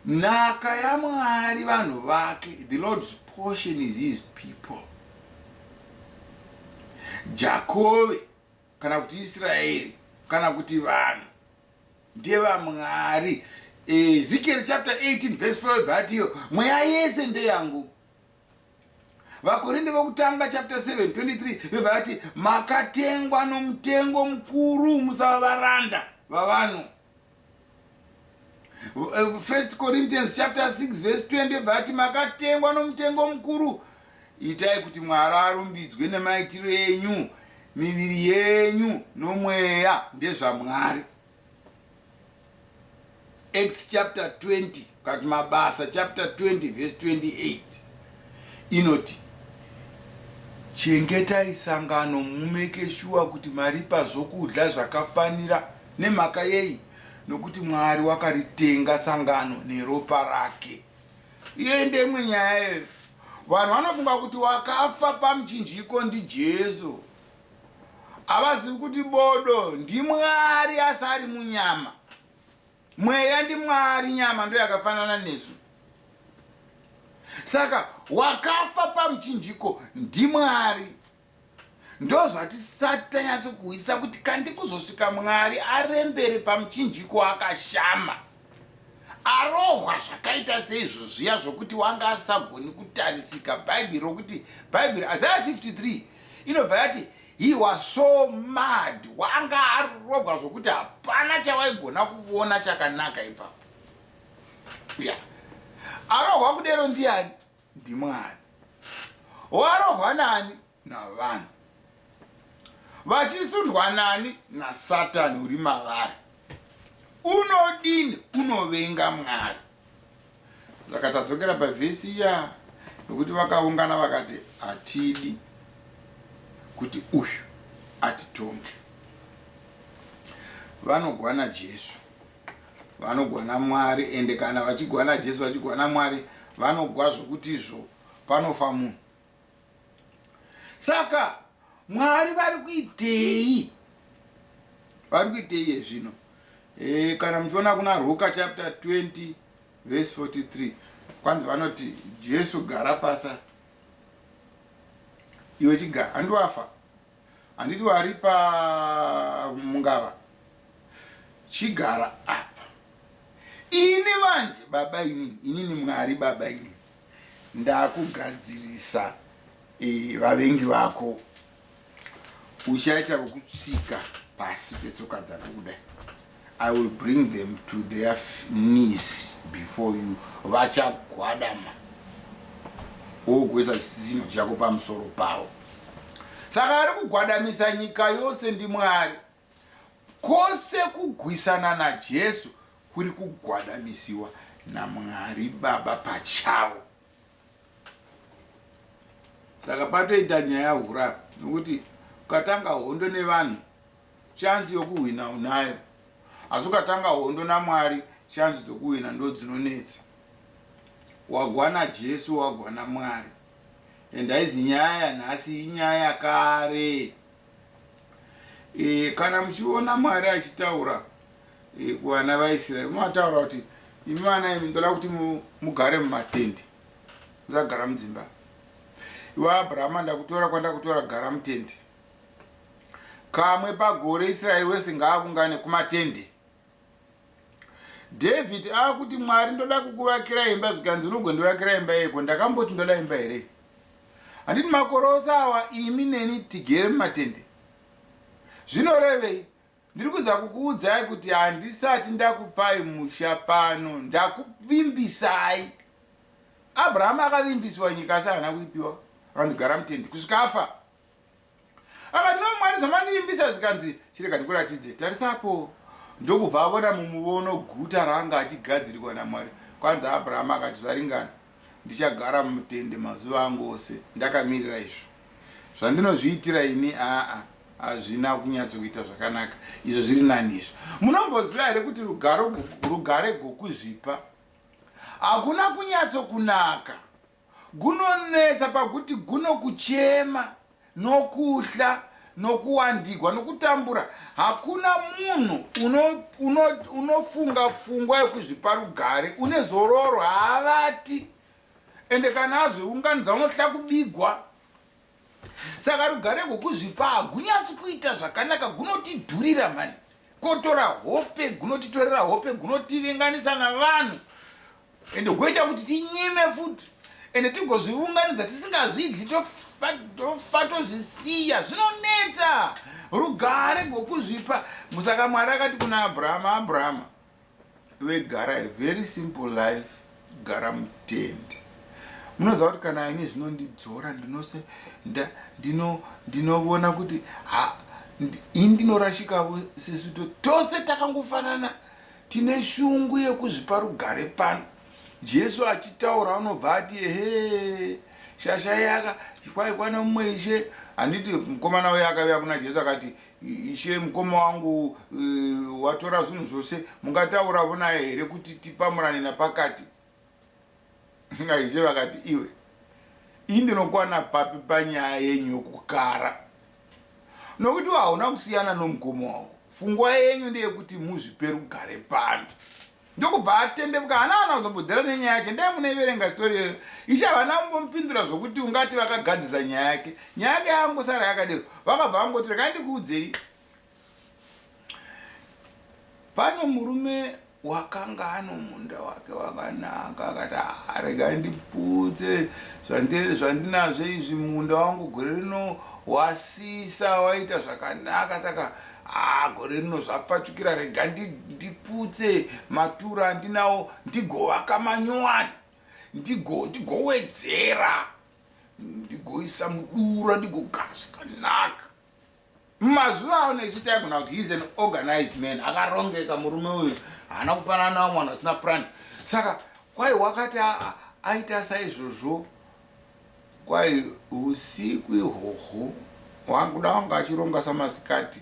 nhaka yamwari vanhu vake the lord's portion is his people jakove kana kuti israeri kana kuti vanhu ndevamwari ezekiel eh, chapter 18 verse 4 but iyo mweya yese ndeyangu vakorinde vokutanga chapter 7 23 vevati makatengwa nomutengo mukuru musava varanda vavanhu Uh, first corinthians chapter 6 verse 20 vati makatengwa nomutengo mukuru itai kuti mwari arumbidzwe nemaitiro enyu miviri yenyu nomweya ndezvamwari acts chapter 20 kati mabasa chapter 20 verse 28 inoti chengetai sangano mumeke shuwa kuti maripa zvokudya zvakafanira Nemhaka yei? Nokuti Mwari wakaritenga sangano neropa rake. Iyoyi ndeimwe nyaya iyoyo. Vanhu vanofunga kuti wakafa pamuchinjiko ndiJesu. Havazivi kuti bodo ndiMwari asi ari munyama. Mweya ndiMwari, nyama ndoyakafanana nesu. Saka wakafa pamuchinjiko ndiMwari. Ndozvatisati tanyatso kuhwisa kuti kandi kuzosvika Mwari arembere pamuchinjiko wakashama. Arohwa zvakaita seizvo zviya zvokuti wanga asisagoni kutarisika Bhaibheri rokuti Bhaibheri Isaiah 53 inobva yati he was so mad wanga arogwa zvokuti hapana chawaigona kuvona chakanaka ipapo. Yeah. Arohwa kudero ndiani? ndiMwari. Warohwa nani? Navanhu. Vachisundwa nani? NaSatani uri mavari. Unodini? Unovenga Mwari. Saka tadzokera pavhesi iya yokuti vakaungana vakati hatidi kuti uyu atitonge. Vanogwana Jesu. Vanogwana Mwari ende kana vachigwana Jesu vachigwana Mwari vanogwa zvekuti izvo panofa munhu. Saka Mwari vari kuitei? Vari kuitei yezvino? E, kana muchiona kuna Ruka chapter 20 verse 43 kwanzi vanoti Jesu gara pasa iwe chigara andiwafa Handiti waripa mungava chigara apa ini manje baba inini inini mwari baba inini ndakugadzirisa e, vavengi vako uchaita vokutsika pasi petsoka dzako kudai I will bring them to their knees before you vachagwadama wogoisa chisino chako pamusoro pavo saka ari kugwadamisa nyika yose ndimwari kwose kugwisana najesu kuri kugwadamisiwa namwari baba pachavo saka patoita nyaya hura nokuti ukatanga hondo nevanhu chansi yokuhwina unayo asi ukatanga hondo namwari chansi dzokuhwina ndo dzinonetsa wagwana jesu wagwana mwari and haizi nyaya yanhasi inyaya yakare e, kana muchiona mwari achitaura e, kuvana vaisraeri unoataura kuti imi vana imi ndoda kuti mugare mumatende musagara mudzimba iwe abrahama ndakutora kwandakutora gara mutende kamwe pagore israeri wese ngaavungane kumatende David akuti Mwari ndoda kukuvakira imba zvikanzi unogondivakira imba yeko ndakamboti ndoda imba here handiti makore ose awa imi neni tigere mumatende zvinorevei ndiri kuedza kukuudzai kuti handisati ndakupai musha pano ndakuvimbisai abrahamu akavimbisiwa nyika asi haana kuipiwa akanzi gara mutende kusvika afa ava no mwari zvamandiimbisa zvikanzi chirega ndikuratidze tarisapo ndokubva avona mumuvono guta raanga achigadzirikwa namwari kwanzi abrahama akati zvaringana ndichagara mumutende mazuva angu ose ndakamirira izvo zvandinozviitira ini aa hazvina kunyatsokuita zvakanaka izvo zviri nani izvo munomboziva here kuti rugare gokuzvipa hakuna kunyatsokunaka Gunonetsa pakuti guno kuchema nokuhla nokuwandigwa nokutambura hakuna munhu uno, uno, unofunga fungwa yokuzvipa rugare une zororo haavati ende kana azviunganidza unohla kubigwa saka rugare gwokuzvipa hagunyatsi kuita zvakanaka gunotidhurira mhani kotora hope gunotitorera hope gunotivenganisa navanhu ende goita kuti tinyime futi ende tigozvivunganidza tisingazvidli tofa tozvisiya zvinonetsa rugare gwokuzvipa musaka mwari akati kuna abrahama abrahama vegara a very simple life gara mutende munoziva kuti kana ini zvinondidzora ndinose ndinovona kuti ha ini ndinorashikavo sesu to tose takangofanana tine shungu yekuzvipa rugare pano jesu achitaura anobva ati ehe shasha yaka kwaikwana mumwe ishe handiti mukomana uye akaviya kuna jesu akati Ishe mukoma wangu uh, watora zvinhu zvose mungatauravo naye here kuti tipamurane napakati ishe vakati iwe ii ndinokwana papi panyaya yenyu yokukara nokuti hauna kusiyana nomukoma wangu fungwa yenyu ndeyekuti muzvipe rugare pano ndokubva atendeuka hana kana kuzobhodhera nenyaya yacho ndai munaiverenga story iyoyo ishe havana kungomupindura zvokuti ungati vakagadzisa nyaya yake nyaya yake yaangosara yakadero vakabva vangoti rekai ndikuudzei pane murume wakanga ano munda wake wakanaka akati ah, regai ndiputse zvandinazvo izvi munda wangu gore rino wasisa waita zvakanaka saka haa gore rino zvapfachukira rega ndiputse matura andinawo ndigovaka manyowani ndigowedzera ndigoisa mudura ndigogara zvakanaka mazuva ano isu taigona kuti heis an organized man akarongeka murume uyu haana kufanana nawo mwana asina plan saka kwai wakati aita saizvozvo Kwai husiku ihoho wanguda wanga achironga samasikati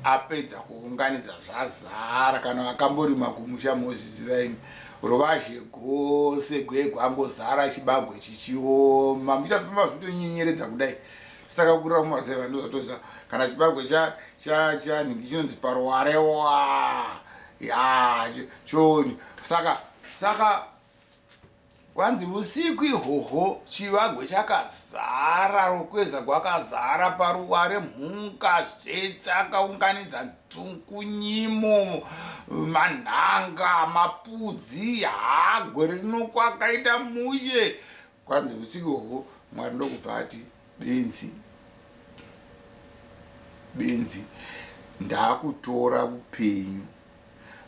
apedza kuunganidza zvazara kana vakamborima kumusha mozviziva imi ruvazhe gose gwegwa angozara chibagwe chichioma muchafamba zvitonyenyeredza kudai saka kurira kumarusai vanhu zvatoziva kana chibagwe chanhingi chinonzi paruware wa ya choni saka saka Kwanzi usiku ihoho chivagwe chakazara rukweza gwakazara paruware mhuka zvetse akaunganidza nzungu nyimo manhanga mapudzi hagwe rinokwakaita mushe Kwanzi husiku uhwu Mwari ndokubva ati benzi benzi ndakutora upenyu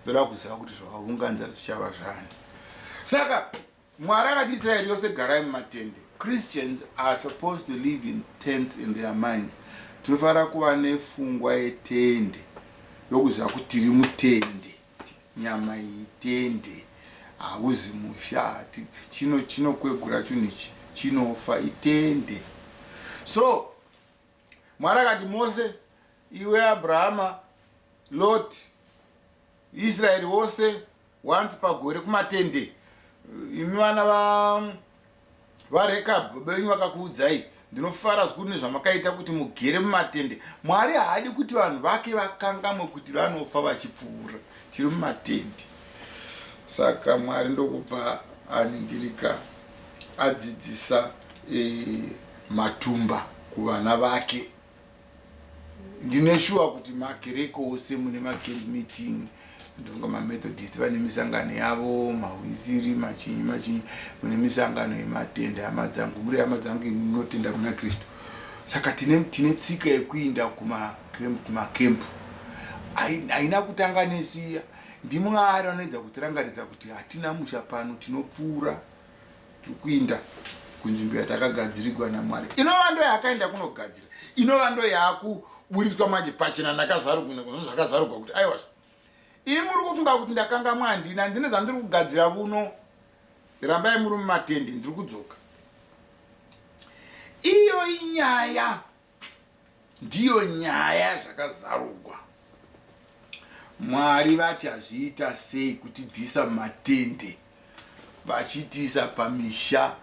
ndoda kuziva kuti zvavaunganza zvichava zvani saka Mwari akati Israeri yose garai mumatende Christians are supposed to live in tents in their minds tinofanira kuva nefungwa yetende yokuziva kuti tiri mutende nyama iyi tende hauzi musha hati chino chinokwegura chunhu ichi chinofa itende so mwari akati mose iwe abrahama lot israeri wose once pagore kumatende imi vana va VaRekab, baba venyu vakakuudzai? Ndinofara zvikuru nezvamakaita kuti mugere mumatende. Mwari haadi kuti vanhu vake vakangamwe kuti vanofa vachipfuura. Tiri mumatende. Saka Mwari ndokubva aningirika adzidzisa eh, matumba kuvana vake. ndine shuwa kuti makereke ose mune macamp meeting ndonga mamethodist vane misangano yavo mahwisiri machinyi machinyi mune misangano yematende hama dzangu muri hama dzangu imi munotenda kuna kristu saka tine, tine tsika yekuinda kumakempu haina kutanga nesiya ndimwari anoedza kutirangaridza kuti hatina musha pano tinopfuura tikuinda kunzvimbo yatakagadzirigwa namwari inova ndo yaakaenda kunogadzira inova ndo yaakuburitswa manje pachena ndakazvarukazvakazvarugwa kuti aiwa ii muri kufunga kuti ndakanga mwandina ndine zvandiri kugadzira vuno rambai muri mumatende ndiri kudzoka iyo inyaya Ndiyo nyaya zvakazarugwa. Mwari vachazviita sei kutibvisa mumatende vachitiisa pamisha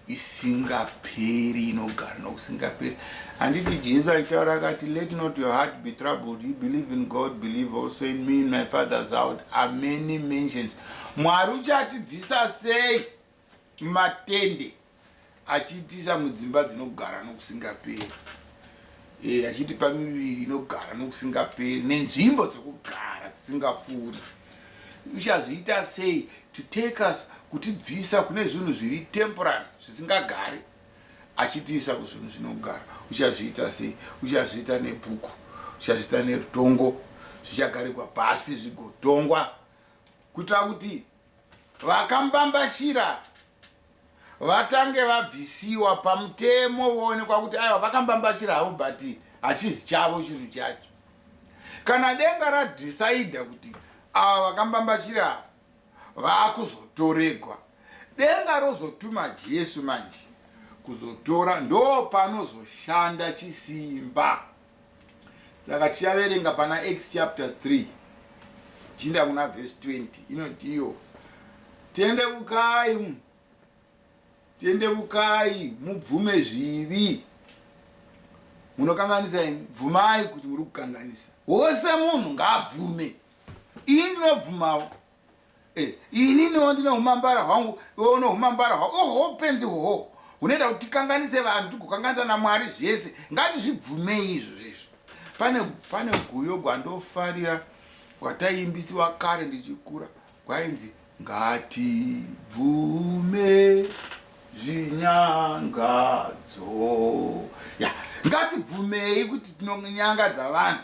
isingaperi inogara nokusingaperi handiti jesu aitaura akati let not your heart be troubled you believe in god believe also in me in my father's out amany mentions mwari uchatibvisa sei matende achiitisa mudzimba dzinogara nokusingaperi e, achitipa miviri inogara nokusingaperi nenzvimbo dzokugara dzisingapfuuri uchazviita sei to take us kutibvisa kune zvinhu zviri temporary zvisingagari achitiisa kuzvinhu zvinogara uchazviita sei uchazviita nebhuku uchazviita nerutongo zvichagarigwa pasi zvigodhongwa kuitira kuti vakambambashira vatange vabvisiwa pamutemo voonekwa kuti aiwa vakambambashira havo but hachizi chavo chinhu chacho kana denga radhisaidha kuti ava vakambambashira vaakuzotoregwa denga rozotuma jesu manje kuzotora ndopanozoshanda chisimba saka tichaverenga pana acts chapter 3 chinda kuna vhesi 20 inotiyo tende vukai tende vukai mubvume zvivi munokanganisa ini bvumai kuti muri kukanganisa wose munhu ngaabvume ini ndinobvumawo Eh, inini wandine humambara hwangu iwe une humambara hwa oho upenzi hoho hunoita kuti tikanganise vanhu tigokanganisa namwari zvese ngatizvibvumei izvo zvezvo pane pane guyo gwandofarira gwataiimbisiwa kare ndichikura gwainzi ngatibvume zvinyangadzo ya ngatibvumei kuti tinonyangadza vanhu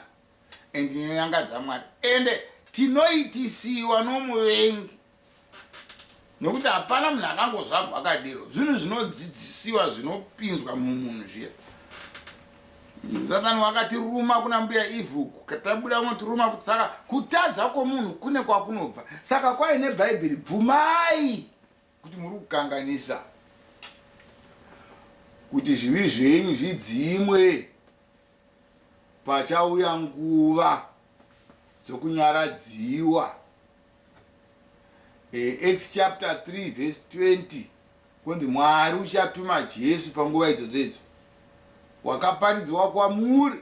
and ndinonyangadza mwari ende tinoitisiwa nomuvengi nokuti hapana munhu akangozvagwa akadero zvinhu zvinodzidzisiwa zvinopinzwa mumunhu zviya satani wakatiruma kuna mbuya ivhu tabuda unotiruma futi saka kutadza kwomunhu kune kwakunobva saka kwaine bhaibheri bvumai kuti muri kukanganisa kuti zvivi zvenyu zvidzimwe pachauya nguva dzokunyaradziwa eh, acts chapter 3 verse 20 kunzi mwari uchatuma jesu panguva idzodzo idzo wakaparidzwa kwamuri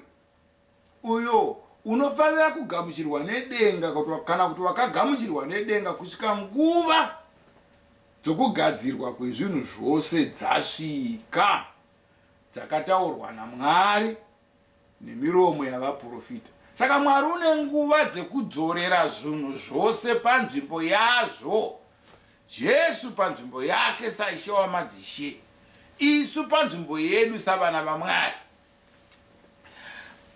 uyo unofanira kugamuchirwa nedenga kana kuti wakagamuchirwa nedenga kusvika nguva dzokugadzirwa kwezvinhu zvose dzasvika dzakataurwa naMwari nemiromo yavaprofita. Saka Mwari une nguva dzekudzorera zvinhu zvose panzvimbo yazvo. Jesu panzvimbo yake saishe wamadzishe, isu panzvimbo yedu savana vaMwari.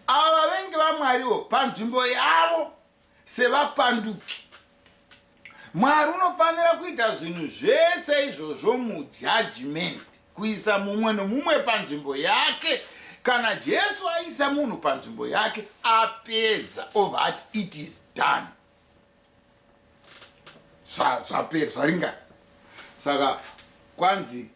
Ava vavengi vaMwariwo panzvimbo yavo sevapanduki. Mwari unofanira kuita zvinhu zvese izvozvo mujajimenti, kuisa mumwe nomumwe panzvimbo yake. Kana Jesu aisa munhu panzvimbo yake, apedza ova ati it is done, zvapera zvaringana. Saka kwanzi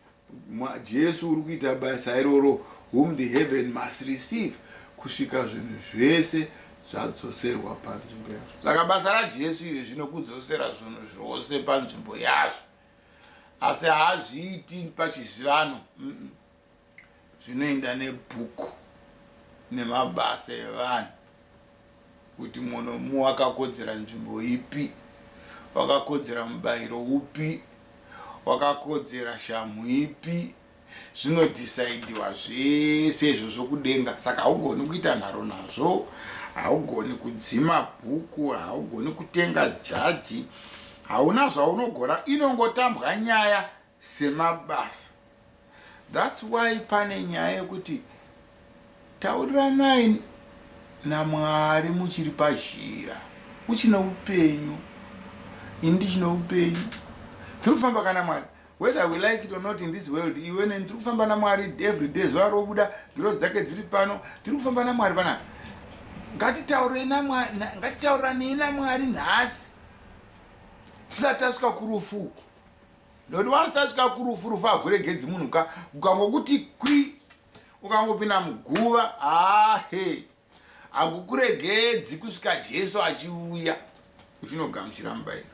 Jesu uri kuita basa iroro whom the heaven must receive kusvika zvinhu zvese zvadzoserwa panzvimbo yazvo saka basa rajesu iri zvino kudzosera zvinhu zvose panzvimbo yazvo asi hazviiti pachizivano zvinoenda nebhuku nemabasa evanhu kuti munomu wakakodzera nzvimbo ipi, wakakodzera mubairo upi, wakakodzera shamhu ipi, zvinodhisaidhiwa zvese izvozvo kudenga. Saka haugoni kuita nharo nazvo, haugoni kudzima bhuku, haugoni kutenga jaji, hauna zvaunogona, inongotambwa nyaya semabasa that's why pane nyaya yekuti tauriranai naMwari muchiri pazhira uchine upenyu ini ndichine upenyu tiri kufamba kana Mwari whether we like it or not in this world iwe neni tiri kufamba naMwari every day zuva robuda ngirozi dzake dziri pano tiri kufamba naMwari pana ngatitauranei naMwari nhasi tisati tasvika kurufu uku Ndondi wansi tasvika kurufu rufu hakuregedzi munhu ka ukangokuti kwi ukangopinda muguva ahe hakukuregedzi kusvika jesu achiuya uchinogamuchira mubairo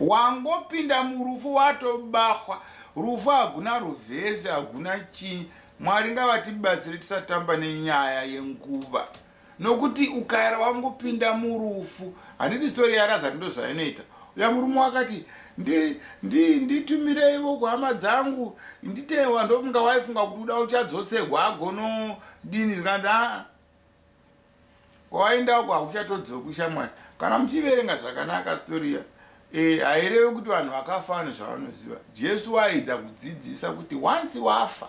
wangopinda murufu watobahwa rufu haguna ruvhesi haguna chii mwari ngavatibatsire tisatamba nenyaya yenguva nokuti ukaera wangopinda murufu handiti story yarazari ndozvainoita uya murume wakati nditumireivo ndi, ndi kuhama dzangu nditewa ndofunga waifunga kuti uda uchadzosegwa agono dini zvikanzi aa kwawaendako hakuchatodzoki ushamwari kana muchiverenga zvakanaka storiya e, hairevi kuti vanhu vakafa vane zvavanoziva jesu waaidza kudzidzisa kuti once wafa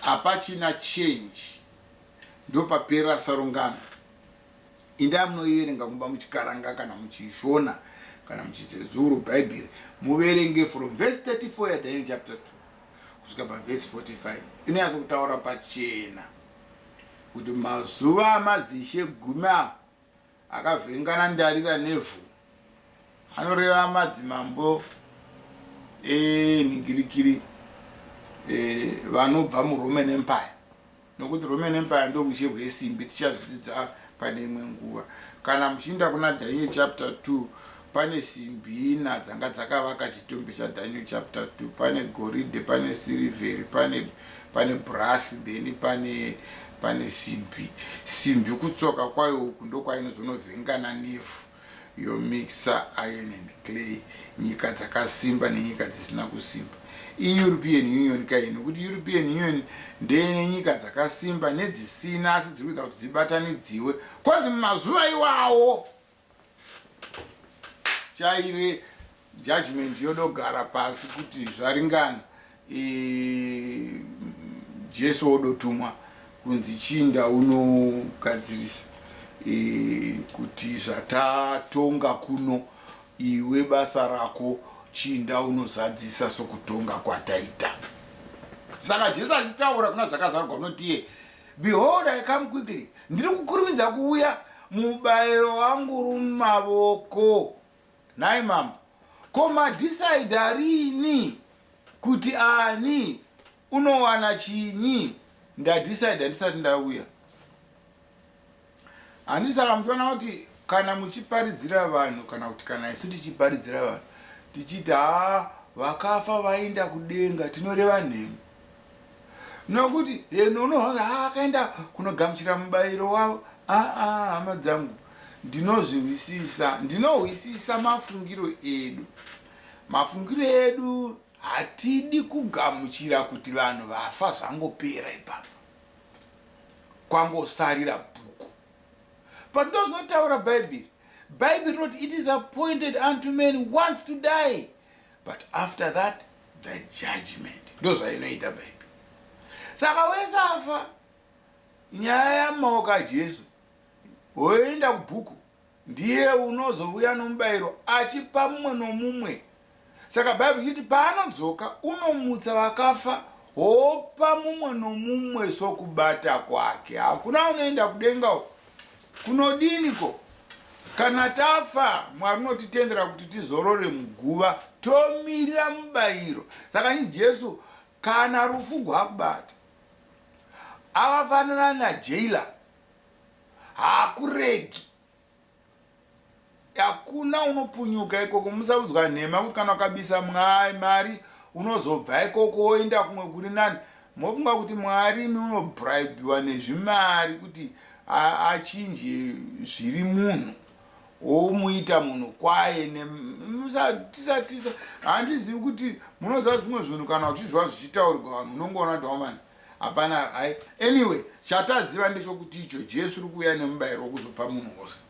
hapachina change ndopapera sarungano indai munoiverenga kumba muchikaranga kana muchishona kana muchizezuru bhaibheri muverenge from verse 34 yadaniel chapter 2 kusvika pavhesi 45 inonyatso kutaura pachena kuti mazuva amadzishe gumi apo Akavhengana ndarira nevhu anoreva madzimambo enhingirikiri eh, vanobva muroman empire nokuti roman empire ndoruzhe rwesimbi tichazvidzidza pane imwe nguva kana muchiinda kuna daniel chapter 2 Pane simbi ina dzanga dzakavaka chitumbi chaDaniel chapter 2. Pane goridhe, pane sirivheri, pane, pane brasi, then pane, pane simbi. Simbi kutsoka kwayo uku ndokwaiinozonovhengana nevhu yomixa iron and clay nyika dzakasimba nenyika dzisina kusimba ieuropean union kai nokuti european union ndeine nyika dzakasimba nedzisina asi dziri kuita kuti dzibatanidziwe kwanzi mumazuva iwawo chaire judgment yodogara pasi kuti zvaringana e, jesu wodotumwa kunzi chinda unogadzirisa e, kuti zvatatonga kuno iwe basa rako chinda unozadzisa sokutonga kwataita saka jesu achitaura kuna zvakazvarwa unotiye Behold, I come quickly. Ndiri kukurumidza kuuya mubairo wangu rumavoko. Nhai mambo, ko madhisaidha rini kuti ani unowana chinyi? Ndadhisaidha ndisati ndauya. Handiti saka muchiona kuti kana muchiparidzira vanhu kana kuti kana isu tichiparidzira vanhu tichiti haa vakafa vaenda kudenga tinoreva nhema nokuti heno unoona haa akaenda kunogamuchira mubayiro wavo aa hama dzangu ndinozvihwisisa ndinohwisisa mafungiro edu mafungiro edu hatidi kugamuchira kuti vanhu vafa zvangopera ipapo kwangosarira bhuku but ndozvinotaura bhaibheri bhaibheri rinoti it is appointed unto man once to die but after that the judgment ndozvainoita bhaibheri saka wese afa nyaya yamaoka jesu woenda kubhuku Ndiye unozovuya nomubayiro, achipa mumwe nomumwe. Saka Bible ichiti paanodzoka, unomutsa vakafa, opa mumwe nomumwe sokubata kwake. Hakuna unoenda kudenga uko. Kunodini ko? Kana tafa, Mwari unotitendera kuti tizorore muguva, tomirira mubayiro. Saka nyi Jesu, kana rufu gwakubata, akafanana najailer haakuregi hakuna unopunyuka ikoko musaudzwa nhema kuti kana ukabisa mwari mari unozobva ikoko woenda kumwe kuri nani mofunga kuti mwari imi unobribiwa nezvimari kuti achinje zviri munhu womuita munhu kwaye nemusatisa handizivi kuti munoziva zvimwe zvinhu kana uchizviva zvichitaurwa vanhu unongoona kuti wamani Hapana hai anyway chataziva ndechokuti icho Jesu uri kuuya nemubayiro wokuzopa munhu wose.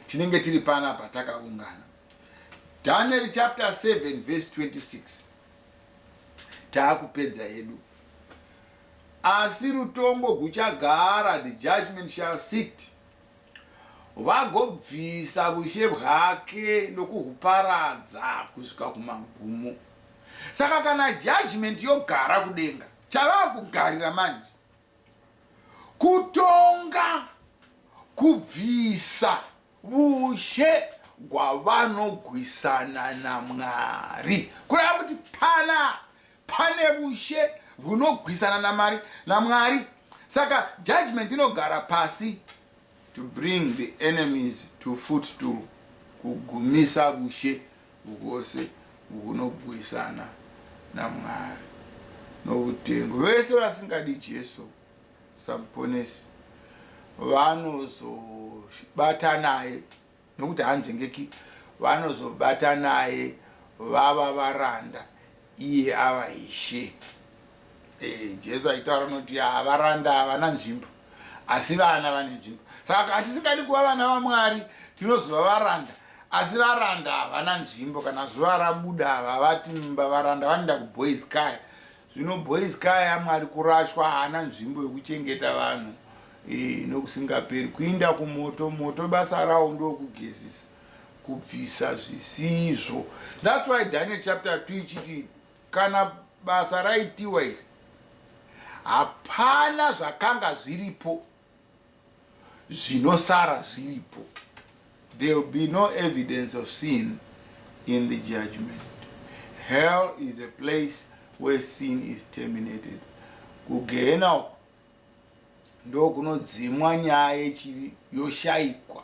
Tinenge tiri pana patakaungana. Daniel chapter 7 verse 26. Taakupedza yedu. Asi rutongo guchagara the judgment shall sit vagobvisa ushe bwake nokuhuparadza kusvika kumagumo. Saka kana judgment yogara kudenga, chavakugarira manje kutonga kubvisa vushe gwavanogwisana naMwari. Kureva kuti pana Pane vushe vhunogwisana namari naMwari saka judgment inogara pasi to bring the enemies to footstool kugumisa vushe vwose vhunogwisana naMwari novutengo. Vese vasingadi Jesu saMponesi vanozobatanaye Nokuti haanzvengeki vanozobata naye vava varanda iye ava ishe. E, Jesu aitaura noti ah, varanda havana nzvimbo asi vana vane nzvimbo. Saka hatisingadi kuva vana vaMwari tinozova varanda asi varanda havana nzvimbo. Kana zuva rabuda havavati mumba varanda vanoenda kuboys kaya Zvino boys kaya mwari kurashwa haana nzvimbo yekuchengeta vanhu eh, nokusingaperi kuinda kumoto moto basa rawo ndokugezisa kubvisa zvisizvo thats why daniel chapter 2 ichiti kana basa raitiwa iri hapana zvakanga zviripo zvinosara zviripo there will be no evidence of sin in the judgment hell is a place where sin is terminated kugehena uku ndokunodzimwa nyaya yechivi yoshaikwa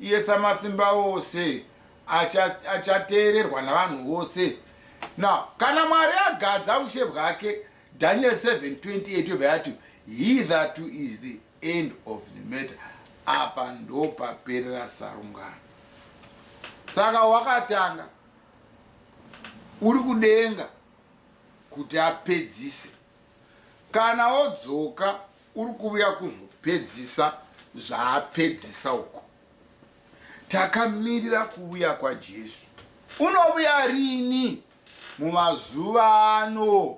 Iye Samasimbaose acha, achateererwa navanhu vose. Now, kana Mwari agadza ushe bwake, Daniel 7:28 yobva yati, He that is the end of the matter. Apa ndopaperera sarungano. Saka wakatanga uri kudenga kuti apedzise kana odzoka Uri kuuya kuzopedzisa zvaapedzisa uko. Takamirira kuuya kwaJesu. Unovuya rini? Mumazuva ano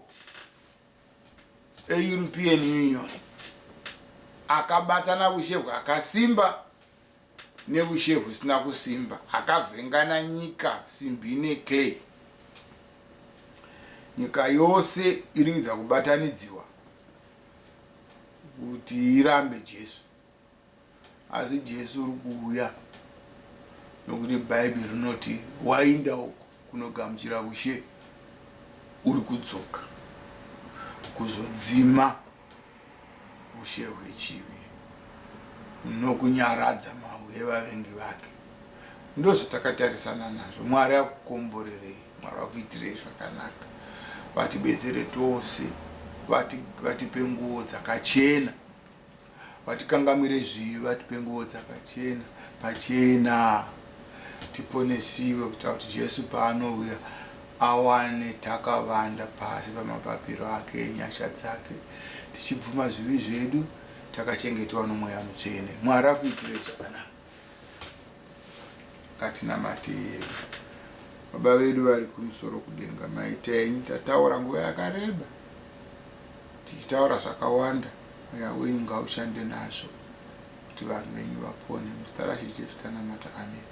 eEuropean Union akabatana vushe hwakasimba neushe husina kusimba, akavhengana nyika simbi neclay. Nyika yose iri kuedza kubatanidziwa kuti irambe Jesu, asi Jesu uri kuuya nokuti Bhaibheri rinoti wainda uko kunogamuchira ushe uri kudzoka kuzodzima ushe hwechivi nokunyaradza mahwi evavengi vake. Ndozvatakatarisana nazvo. Mwari akukomborerei, Mwari akuitirei zvakanaka, vatibetsere tose, vatipe nguo dzakachena, vatikangamire zvivi, vatipe nguo dzakachena pachena tiponesiwe kuita kuti Jesu paanouya awane takavanda pasi pamapapiro ake enyasha dzake, tichibvuma zvivi zvedu, takachengetewa noMweya Mutsvene. Mwari akuitire zvakanaka. Ngatinamate hedu. Baba vedu vari kumusoro kudenga, maita enyu. Tataura nguva yakareba, tichitaura zvakawanda. Mweya wenyu ngaushande nazvo kuti vanhu venyu vapone. Muzita raShe Jesu tanamata. Ameni.